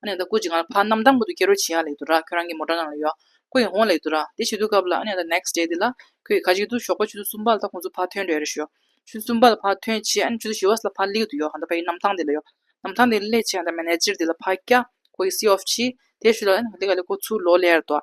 ཨ་ནེ་ད་ཀུ་ཅི་གང་ལ་ཕ་གནམ་དམ་ཀུ་དུ་སྐྱེ་རོ་ཆི་ཡང་ལེགས་འདུག་ར་ཁྱོད་རང་གི་མོ་འདྲ་ནང་ལ་ཡོད་ཀུ་ཡིན་ཧོང་ལེགས་འདུག་ར་དེ་བྱེད་དུས་སྐབས་ལ་ཨ་ནེ་ད next day དེ་ལ་ཁོས་གི་ཁ་ཅིག་ཏུ་ཞོགས་པ་ཆུ་ཚོད་གསུམ་པ་ལ་ད་ཁོང་ཚོ་ཕ་ཐོན་འདྲ་ཡོད་རེ་ཞུ། ཆུ་ཚོད་གསུམ་པ་ལ་ཕ་ཐོན་ཆི་ཨ་ནེ་ཆུ་ཚོད་བཞི་བ་སླ་ཕ་ལིག་དུ་ཡོད་ཧང་ད་ཕ་ཡི་གནམ་ཐང་དེ་ལ་ཡོད་གནམ་ཐང་དེ་ལས་ཆི་ཧང་ད་མན་ནེ་ཅིར་དེ་ལ་ཕ་སྐྱ་ཁོ་གི་སི་ཨོ་ཕྱི་དེ་ཞུ་ལ་ཨ་ནེ་ག་ལེ་ག་ལེ་ཁོ་ཚུར་ལོ་ལེར་འདུག།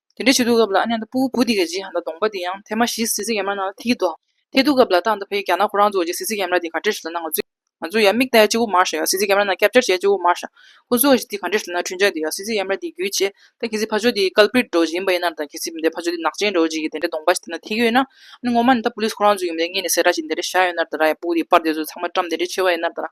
དེ་འདྲའི་བྱེད་སྡུག་སྐབས་ལ་ཨ་ནེ་དང་སྤུ་བོ་བུ་དེ་གའི་རྗེས་ཧན་ད་གདོང་པ་དེ་ཡང་ཐེ་མ་གཞིས་གཟི་བརྩི་ཡམ་ར་ནང་ལ་ཐི་གི་འདུག་ཐེ་སྡུག་སྐབས་ལ་ཏང་དང་བྷེ་རྒྱ་ནག་ཁོ་རང་ཚོ་གཞིས་གཟི་བརྩི་ཡམ་ར་དེ་ག་འདྲེ་ཞིག་ལ་ན་ང་ཚོས་ང་ཚོས་ཡང་མིག་ལྟ་ཡ་གཅིག་བུ་མར་ཤ་ཡ་གཟི་བརྩི་ཡམ་ར་ནང་སྐྱབས་བཅར་བྱས་གཅིག་བུ་མར་ཤ་ཁོ་ཚོའི་གཞི་དེ་ག་འདྲེ་ཞིག་ལ་ན་ཁྲུན་ཆག་དེ་ཡ་གཟི་བརྩི་ཡམ་ར་དེའི་རྒྱུད་བྱས་ད་གི་ཟི་ཕ་ཆོ་དེ་ཀལ་པིར་འགྲོ་བཞིན་ཡིན་པ་ཡིན་ནམ་ད་གི་ཟི་འདའི་ཕ་ཆོ་དེ་ནག་ཅན་འགྲོ་བཞིན་གི་དེ་འདྲའི་གདོང་པ་ཞིག་དེ་ན་ཐི་གི་ཡོད་ན་ཨ་ནེ་ངོ་མ་ནི་ད་པུ་ལིས་ཁོ་རང་ཚོ་ཡོད་མ་དེ་ངེད་ནས་སེ་ར་ཞིག་དེ་འདྲ་བྱ་ཡོད་ནར་ད་ར་ཡ་སྤུ་བོ་དེ་པར་དེ་ཚོ་ཚང་མ་བཀྲམ་དེ་འདྲའི་ཆེ་བ་ཡིན་ནར་ད་ར།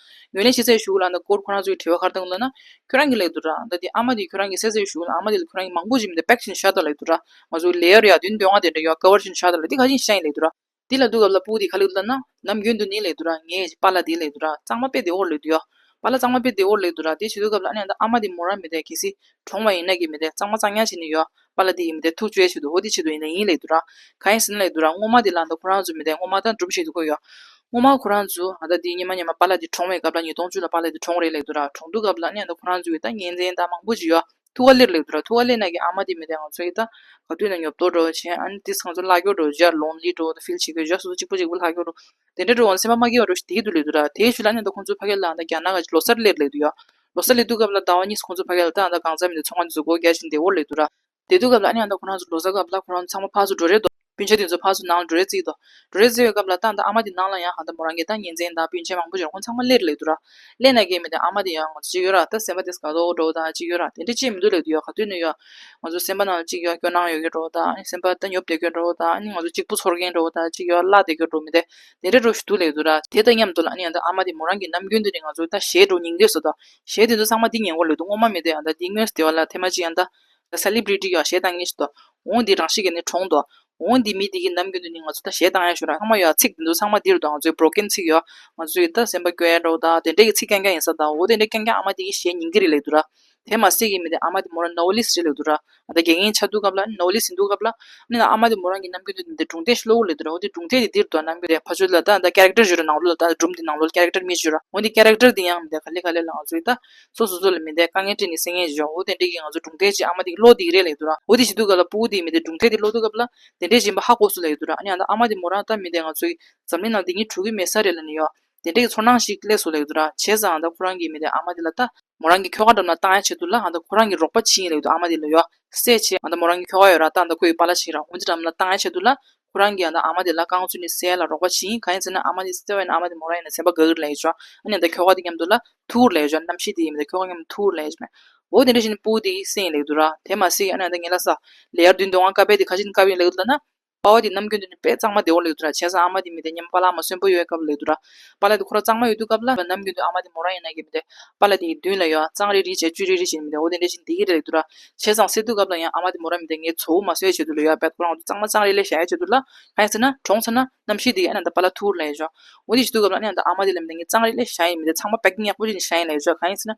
ཡོན་ལས་ཤེས་ཚད་ཞུགས་ལ་ད་ཀོར་ཁོ་རང་ཚོའི་དྲི་བ་ཁར་དང་བློ་ན་ཁྱོད་རང་གི་ལེགས་འདུག་འདྲ་ད་དེ་ཨ་མ་དེ་ཁྱོད་རང་གི་སད་ཚད་ཞུགས་ལ་ཨ་མ་དེ་ལ་ཁྱོད་རང་གི་མང་པོ་ཞིག་མི་འདུག་པེག་ཤིན་ཤ་ད་ལེགས་འདུག་འདྲ་ང་ཚོ་ལས་ཡར་ཡར་དུས་འདོད་ང་དེ་འདྲ་ཡོང་ཨ་ཀ་བར་ཤིན་ཤ་ད་ལེགས་འདི་ག་ཤིན་ཤ་ཡིན་ལེགས་འདུག་འདྲ་དེ་ལ་འདུག་ག་བླ་སྤུ་དེ་ག་ལེགས་འདུག་འདྲ་ནམ་རྒྱུན་དུ་ནི་ལེགས་འདུག་འདྲ་ངའི་བ་ལ་དེ་ལེགས་འདུག་འདྲ་གཙང་མ་དཔེ་དེ་འོར་ལེགས་འདུག་ཡ། བ་ལ་གཙང་མ་དཔེ་དེ་འོར་ལེགས་འདུག་འདྲ་དེ་བྱེད་འདུག་ག་བླ་ཨ་ནེ་ད་ཨ་མ་དེ་མོ་རང་མི་འདྲ་གལ་སྲིད་གྲོང་བ་ཡིན་ན་གི་མི་འདྲ་གཙང་མ་གཙང་ཉག་བྱེད་ནི་ཡོད་ཨ། པ་ལ་དེ་ཡིན་མི་དེ་ཐུགས་བཅོས་བྱེད་དུ་འོ་དེ་བྱེད་དུ་ཡིན་ལ་ཡིན་ལེགས་འདུག་ར། གང་ཡིན་ཟིན་ལེགས་འདུག་ར་སྔོ་མ་དེ་ལ་ད་ཁོ་རང་ཚོ་མི་དེ་སྔོ་མ་དང་འགྲུབ་བྱེད་དུ་བཀོད་ཡོད། སྔོ་མ་ཁོ་རང་ཚོ་ད་དེ་ཉི་མ་ཉི་མ་པ་ལ་དེ་གྲོངས་བའི་སྐབས་ལ་ཉིས་སྟོང་བཅུ་ལ་པ་ལ་དེ་གྲོངས་རེད་ལེགས་འདུག་ར་གྲོངས་འདུག་སྐབས་ལ་ནས་ད་ཁོ་རང་ཚོ་གི་ད་གཉེན་ཚན་ད་མང་པོ་ཅི་ཡོད་ཐུགས་ཀ་ལེར་ལེགས་འདུག་ར་ཐུགས་ཀ་ལེ་ན་གི་ཨ་མ་དེ་མི་དེ་ང་ཚོ་གི་ད་ག་དུས་ན་ཉོབ་ཏོ་འགྲོ་བ་བྱེད་ཨ་ནི་དེ་ཚང་ཚོ་ལྷ་སྐྱོར་འགྲོ་བཞག་ལོང་ལི་འགྲོ་བ་ད་ཕིལ་བྱེད་དགོས་བཞག་སོ་སོ་གཅིག་པོ་གཅིག་པོ་ལྷ་སྐྱོར་འགྲོ། དེ་འདྲ་འགྲོ་འོང་ལ་སེམས་པ་མ་སྐྱེ་བར་འགྲོ་ཞིག་དེའི་དུས་ལེགས་འདུག་ད་དེའི་ཆུ་ལ་ཉིན་དང་ཁོང་ཚོའི་ཕ་སྐད་ལའང་ད་རྒྱ་ནག་གི་ལོ་གསར་སླེབས་ལེགས་འདུག་ཡ། ལོ་གསར་ལེགས་འདུག་སྐབས་ལ་ཟླ་བ་གཉིས་སུ་ཁོང་ཚོའི་ཕ་སྐད་ལ་ད་ཡང་ད་གང་ཟག་མིན་འདུག་ཚོང་ཁང་དེ་ཚོ་སྒོ་རྒྱག་བཞིན་དེ་འོར་ལེགས་འདུག་ར། དེ་དུས་སྐབས་ལ་ཨ་ནེ་ཡང་ད་ཁོ་རང་ཚོ་ལོ་གསར་སྐབས་ལ་ཁོ་རང་ཚོ་ཚང་མ་ཕག་སུ་འགྲོ་རེས་འདུག་སྤུན་མཆེད་དེ་ཚོ་ཕག་སུ་ནང་ལ་འགྲོ་རེས་བརྩིས་འདུག་འགྲོ་རེས་བརྩི་བའི་སྐབས་ལ་ད་ད་ཨ་མ་དེ་ནང་ལ་ཡང་ཧ་ད་མོ་རང་རྒྱལ་ཐང་ཉིན་མཚན་ད་སྤུན་མཆེད་མང་པོ་འབྱོར་ཁོང་ཚང་མ་སླེབས་ལེགས་འདུག་ར། ལས་ན་རྒས་མི་དེ་ཨ་མ་དེ་ཡང་ང་ཚོ་ཅིག་ཡོད་ར་ད་སེམས་པ་དེས་ག་དོག་གྲོགས་དང་ཅིག་ཡོད་ར་དེ་འདྲ་ཅིག་མི་འདུག་ལེགས་དུ་ཡོད་ག་དུས་ནས་ཡོད་ང་ཚོ་སེམས་པ་ནང་ལ་ཅིག་ཡོད་སྐྱོ་སྣང་ཡོད་མཁན་གྲོགས་དང་སེམས་པ་ད་ཉོབ་བསྡད་མཁན་གྲོགས་དང་ང་ཚོ་གཅིག་པུ་ཚོར་མཁན་གྲོགས་དང་ཅིག་ཡོད་བརླག་བསྡད་མཁན་གྲོགས་མི་དེ་དེ་འདྲ་གྲོགས་ཤིག་འདུག་ལེགས་དུ་ར་དེ་ད་སྙམ་འདུག་ལ་ཡང་ད་ཨ་མ་དེ་མོ་རང་གི་ནམ་རྒྱུན་དེ་ནས་ང་ཚོ་ད་གཞས་གྲོགས་ཉིང་བསྡད་སོ་ད་གཞས་དེ་ཚོ་ཚང་མ་འདི་ཉེ་འཁོར་ལོད་དུ་སྔོ་མ་མི་དེ་ཡང་ད་འདི་དངོས་སུ་དེ་བ་ལ་ཐེ་མ་ཅིག་ཡང་ད་ད་ས་ལིབ་རི་ཏི་ཡག་གཞས་ད་ངེས་ཤིག་ད་འོང་འདི་རང་ཤིག་གི་ནི་གྲོངས་ད་འོང་འདི་མི་འདི་གི་ནམ་རྒྱུན་དུ་ནི་ང་ཚོ་ད་ཞལ་གདངས་ཡག་ཤོས་རང་ཚང་མ་ཡོད་ཚིག་འདི་འདུག་ཚང་མ་འདིར་འདུག་ང་ཚོའི Broken ཚིག་ཡོད་ང་ཚོའི་ཡོད་ད་སེམས་པ་སྐྱོ་ཡ་འདྲ་བོ་ད་དེ་འདྲ་གི་ཚིག་རྐྱང་རྐྱང་ཡིན་ས་ད་འོ་དེ་འདྲ་རྐྱང་རྐྱང་ཨ་མ་འདི་གི་ཞལ་ཉིང་འདི་རེད་ལེགས་འདུག་ར་དེ་མ་སྲིད་གི་མི་དེ་ཨ་མ་དེ་མོ་རང Novelist རེད་ལེགས་འདུག་ར་ད་དགེ་རྒན་ཆགས་འདུག་སྐབས་ལ Novelist ཡིན་འདུག་སྐབས་ལ་ནི་ཨ་མ་དེ་མོ་རང་གི་ནམ་རྒྱུན་དུ་འདི་འདྲ་སྒྲུང་ཐད་ཤི་ལོ་བོ་ལེགས་འདུག་ར་འོ་དེ་སྒྲུང་ཐད་འདི་འདིར་འདུག་ནམ་རྒྱུན་དེ་ཕ་ཆོས་ལ་ད་ད Character བཞུགས་ར་ནང་ལོ་ལ་ད་སྒྲུང་འདི་ནང་ལོ་ལ Character མི་བཞུགས་ར་འོ་འདི Character འདི་ཡང་མི་ད་ག་ལེ་ག་ལེ་ལ་ང་ཚོའི་ད་སོ་སོ་སོ་ལ་མི་འཐད་དཀའ་ངལ་བཀྲིས་ནས་སེང་ངེ་ཞེས་བྱའོ་འོ་དེ་འདྲའི་གི་ང་ཚོ་གྲུང་མཐའི་ཆེད་ཨ་མ་དེ་གི་གློག་འདིག་རེ་ལ་ཡོད་དོ་ར་འོ་དེ་བྱེད་དུས་ག་ལ་སྤུ་བོ་དེ་གི་མི་དེ་གྲུང་མཐའི་དེ་གློག་འདུག་སྐབས་ལ་དེ་འདྲའི་བཞིན་པ་ཧ་གོ་སུ་ལ་ཡོད་དོ་ར་ཨ་ནི་ཨ་མ་དེ་མོ་རང་ལྟ་མི་དེ་ང་ཚོ་གི་འཛམ་གླིང་ནང་དེ་གཉིས་གྲུ་གི་མེད་ས་རེ་ལ་ནི་ཡོད་དེ་འདྲའི་གི་ཚོར་སྣང་ཞིག་སླེབས་སུ་ལ་ཡོད་དོ་ར་བྱས་ཙང་ཨ་ད་ཁོ་རང་གི་མི་དེ་ཨ་མ་དེ་ལ་ལྟ། མོ་རང་གི་ཁྱོ་ག་འགྲམ་ལ་བཏང་ཡ་བྱེད་དུ་ལ་ཨ་ད་ཁོ་རང་གི་རོགས་པ་བྱིན་ཡི་ལ་ཡོད་དོ་ཨ་མ་དེ་ལ་ཡོད་སེ་བྱས་ཨ་ད་མོ་རང་གི་ཁྱོ་ག་ཡོད་ར་ལྟ་ཨ་ད་ཁོ་ཡི་པ་ལ་བྱིན་ར་འོ་དེ་འགྲམ་ལ་བཏང་ཡ་བྱེད་དུ་ལ་ཁོ་རང་གིས་ཡང་ན་ཨ་མ་དེ་ལ་རྐང་བཙུགས་ནས་བསད་ལ་རོགས་པ་བྱིན་གང་ཡིན་ཟེར་ན་ཨ་མ་དེ་བསད་བ་ཡིན་ན་ཨ་མ་དེ་མོ་རང་ཡིན་ན་ཟེར་བ་དགའ་གིར་ལས་བྱོས། ཨ་ནེ་ད་ཁྱོ་ག་དེ་མཉམ་འདུག་ལ་ཐུ་བོར་ལས་བྱོས་རྣམ་ཤེས་དེ་ཡིན་མི་ད་ཁྱོ་ག་མཉམ་ཐུ་བོར་ལས་བྱོས། འོ་དེ་འདྲ་བྱས་ནས་སྤུ་དེ་ཡི་སེམས་ཡིན་ལེགས་འདུག་ར་དེ་མ་ཟེ་ཨ་ནེ་ད་ངེད་ལ་ས་ལེ་ཡར་འདུས་འདུག་ཨང་དཀའ་བས་དེ་ཁ་ཆེ་ནས་དཀའ་བ་ཡིན་ལེགས་འདུག་ལ་ན་དཔའ་བ་དེ་ནམ་རྒྱུན་དུ་ནི་དཔེ་གཙང་མ་བདེ་བོ་ལེགས་འདུག་ར་བྱས་ས་ཨ་མ་དེ་མི་ད་མཉམ་དཔའ་ལག་མ་གསོན་པོ་ཡོད་སྐབས་ལེགས་འདུག་ར། པཱ་ལ་དེ་ཁོ་རང་གཙང་མ་ཡོད་དུས་སྐབས་ལ་ལ་ནམ་རྒྱུན་དུ་ཨ་མ་དེ་མོ་རང་ཡིན་ན་ཡིན་མི་དེ། པཱ་ལ་དེ་ཡི་མདུན་ལ་ཡོད་ཨ་གཙང་རེ་རེ་བྱས་བཅུད་རེ་རེ་བྱས་ནི་མི་དེ་འོ་དེ་འདྲ་ཞིག་འདི་ཡི་རེ་ལེགས་འདུག་ར། བྱས་ཙང་ཟེར་དུས་སྐབས་ལ་ཡང་ཨ་མ་དེ་མོ་རང་མི་དེ་ངའི་ཚོ་བོ་མ་སོད་བྱས་དུས་ལ་ཡོད་ཨ་བད་ཁོ་རང་འོ་དེ་གཙང་མ་གཙང་རེ་ལེ་བྱས་བྱས་དུས་ལ། གང་ཡིན་ཟེར་ན། གྲོངས་ཟེར་ན། རྣམ་ཤེས་དེ་ཡི་ཨ་ན་ད་པཱ་ལ་ཐུག་རུ་ལ་ཡོད་བྱས། འོ་དེ་བྱས་དུས་སྐབས་ལ་ཨ་ན་ད་ཨ་མ་དེ་ལ་མི་དེ་ངའི་གཙང་རེ་ལེ་བྱས་ཡིན་མི་དེ་ཚང་མ་པད་ཀི་ཉག་པོ་རེ་ནི་བྱས་ཡིན་ལ་ཡོད་བྱས་གང་ཡིན་ཟེར་ན།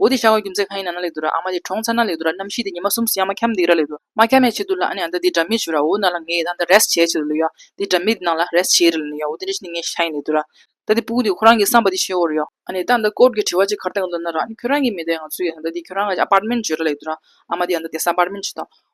འོ་དེ་ཤ་བ་རྒྱུ་མཚན་གང་ཡིན་ན་ན་ལེགས་འདུག་ར་ཨ་མ་དེ་གྲོང་ཚ་ན་ལེགས་འདུག་ར་གནམ་ཤིས་དེ་ཉི་མ་གསུམ་སུ་ཡང་མ་འཁྱམས་འདུག་ར་ལེགས་འདུག་ར་མ་འཁྱམས་ཡ་ཆེ་འདུག་ལ་ཨ་ནེ་ཨ་མདའ་དེ་འདྲ་མི་བྱོས་ར་འོ་ན་ལ་ངའི་ཨ་མདའ་རེས་བྱས་ཆེ་རུ་ལུས་ཡ་དེ་འདྲ་མི་དེ་ནང་ལ་རེས་བྱས་རེ་ལ་ནུས་ཡ་འོ་དེ་འདྲ་ཞིག་ནི་ངའི་ཤ་ཡིན་ལེགས་འདུག་ར། མདའ་དེ་སྤུ་གུ་དེ་ཁོ་རང་གི་བསམ་པ་དེ་བྱས་འོ་རེ་ཡོད། ཨ་ནེ་ད་ཨ་མདའ་སྐོར་གྱི་དྲི་བ་ཅིག་གར་བཏང་གི་འདུག་ན་ར་ཨ་ནེ་ཁྱོད་རང་གིས་མི་དེ་ང་ཚོའི་ཨ་མདའ་དེ་ཁྱོད་རང་གི་ཨ་པར་མེན་བྱོས་ར་ལེགས་འདུག་ར་ཨ་མ་དེ་ཨ་མདའ་དེ་སམ་པར་མེན་བྱོས་དང།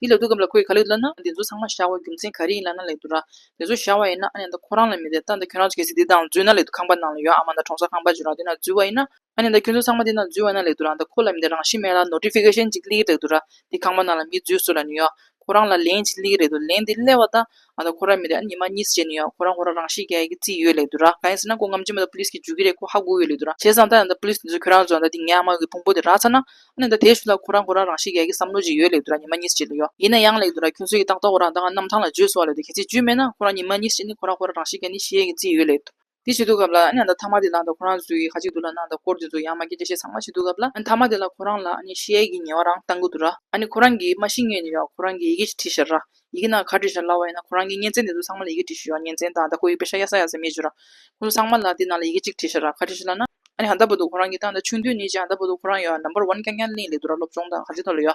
དེའི་ལེགས་འདོད་སྐབས་ལ་ཁོས་ག་ལེགས་འདོད་ན་འདི་ཚོ་ཚང་མ་བཞག་བའི་རྒྱུ་མཚན་ག་རེ་ཡིན་ལབ་ན་ལེགས་འདོད་ར། འདི་ཚོ་བཞག་བ་ཡིན་ན་ཨ་ནེ་ད་ཁོ་རང་ལ་མི་དེ་ལྟ་འདི་ཁྱོད་རང་ཚོ་གལ་སྲིད་འདི་དང་འཛུལ་ན་ལེགས་འདུག་ཁང་པ་ནང་ལ་ཡོད་ཨ་མ་དང་གྲོང་གསར་ཁང་པ་ཅིག་རང་འདི་ན་འཛུལ་བ་ཡིན་ན། ཨ་ནེ་ད་ཁྱོད་ཚོ་ཚང་མ་འདི་ན་འཛུལ་བ་ན་ལེགས་འདུག་རང་ད་ཁོ་ལ་མི་དེ་རང་ཤི་མེད་ལ Notification ཅིག་སླེ་གི་ལེགས་འདུག་ར། འདི་ཁང་པ་ནང་ལ་མི་འཛུལ་བཟོ་ལ་ནི་ཡོད། ཁོ་རང་ལ་ལན་ཅིག་སླེ་གི་རེད་འདུག་ལན་འདི་སླེ་བ་ད། ང་དང་ཁོ་རང་མི་རེད་ཨ་ཉི་མ་གཉིས་སུ་བྱས་ནས་ཡོད་ཁོ་རང་ཁོ་རང་རང་ཤི་རྒྱ་ཡིག་གི་རྩིས་ཡོད་ལེ་དུ་ར་གང་ཡིན་ཟེར་ན་ཁོ་ངམ་ཆེན་མོ་ད police གིས་འཇུ་གི་རེད་ཁོ་ཧ་གོ་ཡོད་ལེ་དུ་ར་བྱས་ཙང་ད་ཡང་ད police དེ་ཚོས་ཁྱོད་རང་ཚོ་ད་འདི་ངའི་ཨ་མ་གི་ཕུང་པོ་དེ་རག་ཚར་ན་ཨ་ནི་ད་དེ་ཞུ་ལ་ཁོ་རང་ཁོ་རང་རང་ཤི་རྒྱ་ཡིག་གི་བསམ་བློ་ཅིག་ཡོད་ལེ་དུ་ར་ཉི་མ་གཉིས་སུ་བྱས་ནས་ཡོད་ཡིན་ན་ཡང་ལེ་དུ་ར་ཁྱོད་ཚོས་ཀྱི་ཏག་ཏག་ཁོ་རང་ད་ང་གནམ་ཐང་ལ་འཇུས་སོང་བ་ལེ་དུ་གལ་སྲིད་འཇུས་མེད་ན་ཁོ་རང་ཉི་མ་གཉིས་སུ་བྱས་ནས་ཁོ་རང་ཁོ་རང་རང་ཤི་རྒྱ་ནི་ཤི་ཡས་ཀྱི་རྩིས་ཡོད་ལེ་དུ། དེ་བྱེད་དུ་གབ་ལ། ཨ་ནནྡ་ཐ་མ་དེ་ལགས་འདའ་ཁོ་རང་གཟུགས་ཡིག་ཧ་ཅིག་འདུག་ལ་ནནྡ་སྐོར་དེ་ཚོ་ཡང་མ་ཁྱེད་ཀྱི་ཞེས་ཚང་མ་བྱེད་དུ་གབ་ལ། ཨ་ཐ་མ་དེ་ལགས་ཁོ་རང་ལ་ཨ་ནི་ཤེས་ཡས་ཀྱི་ཉེ་བ་རང་བལྟ་དགོས་འདུག་ར། ཨ་ནི་ཁོ་རང་གིས་མ་ཤེས་ངས་ནི་ཡང་ཁོ་རང་གི་ཡི་གེ་ཞིག་བྲིས་ཤར་ར། ཡི་གེ་ནང་ག་བྲིས་ཤར་སླ་བ་ཡིན་ན་ཁོ་རང་གིས་གཉེན་ཚན་དེ་ཚོ་ཚང་མ་ལ་ཡི་གེ་བྲིས་ཤོད་ཡ་གཉེན་ཚན་དང་ད་ཁོ་ཡི་པེ་ཤ་ཡ་ས་ཡ་ས་མེད་བྱོས་ར། ཁོང་ཚོ་ཚང་མ་ལ་དེ་ནང་ལ་ཡི་གེ་གཅིག་བྲིས་ཤར་ར་ག་བྲིས་ཤར་ལ་ན། ཨ་ནི་ཧ་འདའ་པོ་འདུག་ཁོ་རང་གིས་ད་འདའ་ཆུང་དུས་ནས་ཀྱང་འདའ་པོ་འདུག་ཁོ་རང་ཡོ་ནམ་པར་ཝན་རྐྱང་རྐྱང་གླིང་ལས་འདུག་ར་སློབ་སྦྱོང་དང་ག་རྗེས་ཐོག་ལ་ཡོ།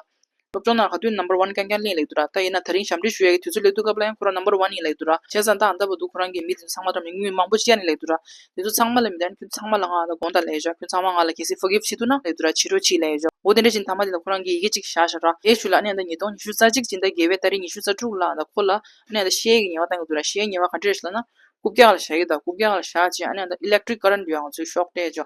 སློབ་སྦྱོང་ནང་ག་དུས Number One གན་གན་ལྷིང་ལེགས་འདུག་ར་ད་ཡིན་ན་ད་རིང་ཞབས་འདྲི་ཞུ་ཡ་གི་དུས་ཚོད་ལེགས་འདུག་སྐབས་ལ་ཡང་ཁོ་རང Number One ཡིན་ལེགས་འདུག་ར་བྱས་ཙང་ད་ཨ་མདའ་བ་འདུག་ཁོ་རང་གིས་མི་དེ་ཚང་མ་དང་མི་དངོས་མང་པོ་ཅི་ཡ་ནི་ལེགས་འདུག་ར་དེ་ཚོ་ཚང་མ་ལ་མི་དང་ཁྱོད་ཚང་མ་ལ་ང་ཨ་ད་དགོངས་དག་ལེགས་བཞག་ཁྱོད་ཚང་མ་ང་ལ་གལ་སྲིད Forgive བྱེད་ཐུབ་ན་ལེགས་འདུག་ར་ཕྱི་དྲོ་ཕྱིས་ལེགས་བཞག་འོ་དེ་འདྲ་བཞིན་ད་མ་དེ་ལ་ཁོ་རང་གིས་ཡི་གེ་གཅིག་བཞག་ཤག་ར་ཨེ་ཞུ་ལ་ཨ་ནི་ཨ་ད་ཉིས་སྟོང་ཉི་ཤུ་རྩ་གཅིག་ཅིག་ད་དགེ་བས་ད་རིང་ཉི་ཤུ་རྩ་དྲུག་ལ་ཨ་ད་ཁོ་ལ་ཨ་ནི་ཨ་ད་ཤའི་ཡི་གེ་ཉེ་བ་གཏང་གི་འདུག་ར་ཤའི་ཉེ་བ་ག་འདྲས་ཤི་ལ་ན་རྐུབ་བཀྱག་ལ་བཞག་གི་ད་རྐུབ་བཀྱག་ལ་བཞག་ཅིང་ཨ་ནི་ཨ་ད Electric Current འདུག་ཡ་ང་ཚོའི་ཤོག་དྲས་བཞག་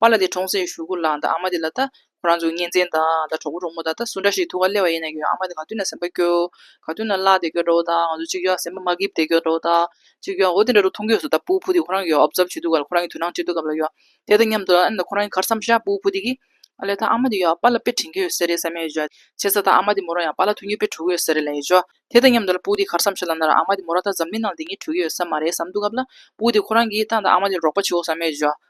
པ་ལ་དེ་གྲོང་ཚོའི་ཞུ་གུ་ལགས་འདི་ཨ་མ་དེ་ལ་ད་ཁོ་རང་ཚོའི་གཉེན་ཚན་དང་ད་གྲོགས་པོ་གྲོགས་མོ་དག་ད་སུ་འདྲ་ཞིག་ཐུགས་ཀ་སླེ་བ་ཡིན་ན་ཡོད་ཨ་མ་དེ་ག་དུས་ན་སེམས་པ་སྐྱོ། ག་དུས་ན་བླ་དེ་སྐྱོ་འདྲ་བོ་དང་ང་ཚོ་གཅིག་ཡོད་སེམས་པ་མ་སྐྱིད་དེ་སྐྱོ་འདྲ་བོ་དང་གཅིག་ཡོད་འོ་དེ་འདྲ་རུ་མཐོང་གི་ཡོད་སོ་ད་པུའུ་ཕུ་དེ་ཁོ་རང་གི་ཡོད་ཨོབ་ཙབ་བྱེད་དུས་ག་ལ་ཁོ་རང་གི་དུས་ནང་སྤྱི་འཐུས་སྐབས་ལ་ཡོད་དེ་དང་མཉམ་དུ་ཨ་ནི་ཁོ་རང་གི་ཁར་བསམ་ཤ་པུའུ་ཕུ་དེ་གིས། ཨ་ལེ་ད་ཨ་མ་དེ་ཡོད་པ་ལ་དཔེ་དྲིན་གྱི་ཡོད་ས་རེད་བསམ་ཡོད་བྱས་ཚར་ད་ཨ་མ་དེ་མོ་རང་ཡང་པ་ལ་ཐུགས་ཉིད་དཔེ་འཕྲོ་གི་ཡོད་ས་རེད་ལ་ཡོད་བྱས་དེ་དང་མཉམ་དུ་ལ་པུའུ་དེ་ཁར་བསམ་ཤ་ལ་ན་ར་ཨ་མ་དེ་མོ་རང་ད་འཛམ་གླིང་ནང་ལ་དེ་གཉིས་བྲོ་གི་ཡོད་ས་མ་རེད་བསམ་འདུག་སྐབས་ལ་པུའུ་དེ་ཁོ་རང་གིས་ད་ད་ཨ་མ་དེ་རོགས་པ་བྱེད་འོ་བསམ་ཡོད་བྱས།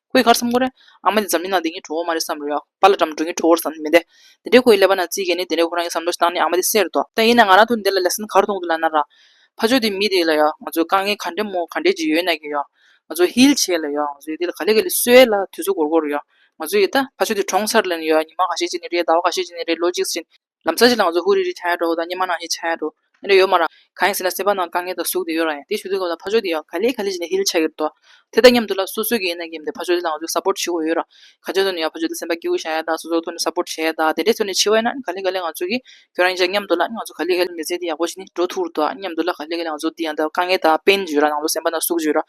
ཁོ་ཡི་ཁར་སེམས་ཁོ་རེད། ཨ་མ་འདི་འཛམ་གླིང་ནང་དེ་གཉིས་གྲུང་བོ་མ་རེད་བསམ་རོགས། ཕ་ལ་འགྲམ་འགྲུལ་གཉིས་གྲུང་བོར་བསམ་ནི་མི་འདེད། དེ་འདྲའི་ཁོ་ཡི་ཀླད་པ་ན་རྩིས་དགེ་ནི་དེ་འདྲའི་ཁོ་རང་གི་བསམ་བློ་ཞིག་བཏང་ནི་ཨ་མ་དེ་སེར་དོ། ད་ཡིན་ན་ང་རང་ཐུག་འདི་ལ་ལས་སེམས་གར་གཏོང་དུ་ལ་ན་རག། ཕ་ཆོས་དེ་མི་དེ་ལ་ཡོད། ང་ཚོས་དཀའ་ངལ་ག་འདྲའི་མོ་ག་འདྲའི་ཅིག་ཡོད་ན་གི་ཡོད། ང་ཚོས་ཧིལ་བྱས་ལ་ཡོད། ང་ཚོས་ཡི་དེ་ལ་ག་ལེ་ག་ལེ་གསོས་ལ་དུས་ཚོད་འགོར་འགོར་ཡོད། ང་ཚོས་ཡི་ད་ཕ་ཆོས་དེ་གྲོངས་ཚར་ལ་ཡོད་ཉི་མ་ག་ཤེད་ཅིག་ནི་རེད་ཟླ་བ་ག་ཤེད་ཅིག་ནི་རེད་ལོ་གཅིག་ཕྱིན། ལམ་ཚ་ཞིག་ལངས་ཚོ་ཧུ་རི་རི་བྱ་ཡག་འགྲོ་ཧོ་དང་སྙེ་མ་ནང་ཞིག་བྱ་ཡག་འགྲོ། ཨེ་འདྲ་ཡོད་མ་རང། གང་ཡིན་ཟེར་ན་སེམས་པ་ནང་དཀའ་ངལ་དང་ཟུག་དེ་ཡོད་རང་ཡིན་དེ་ཞུ་དུས་སྐབས་ལ་ཕ་ཆོས་དེ་ཡང་ག་ལེ་ག་ལེ་བྱས་ནས་ཧི་ལི་བྱ་གིར་འདུག། དེ་དང་མཉམ་དུ་ལ་སོ་སོས་ཀྱི་ཡིན་ན་ཀྱི་མི་འདུག་ཕ་ཆོས་དེ་ལངས་ཚོས་སབོར་བྱེད་དགོས་ཡོད་རང། ག་ཅའི་ཐོག་ནས་ཡང་ཕ་ཆོས་དེ་སེམས་པ་སྐྱིད་བོ་བྱ་ཡག་དང་སོ་སོའི་ཐོག་ནས་སབོར་བྱེད་ཡག་དང་དེ་འདྲའི་ཐོག་ནས་འཆི་བ་ཡིན་ན་ག་ལེ་ག་ལེ་ང་ཚོས་ཀྱི་ཁྱོད་རང་ཡིན་ཅག་མཉམ་དུ་ལ་ང་ཚོ་ག་ལེ་ག་ལེ་མི་ཚེ་འདི་ཡག་པོ་ཞིག་ནི་འགྲོ་ཐུག་རོ་དང་མཉམ་དུ་ལ་ག་ལེ་ག་ལེ་ང་ཚོ་དེ་ཡང་དཀའ་ངལ་དང་བན་རྒྱུ་རང་ནང་ལོ་སེམས་པ་ནང་ཟུག་རྒྱུ་རང།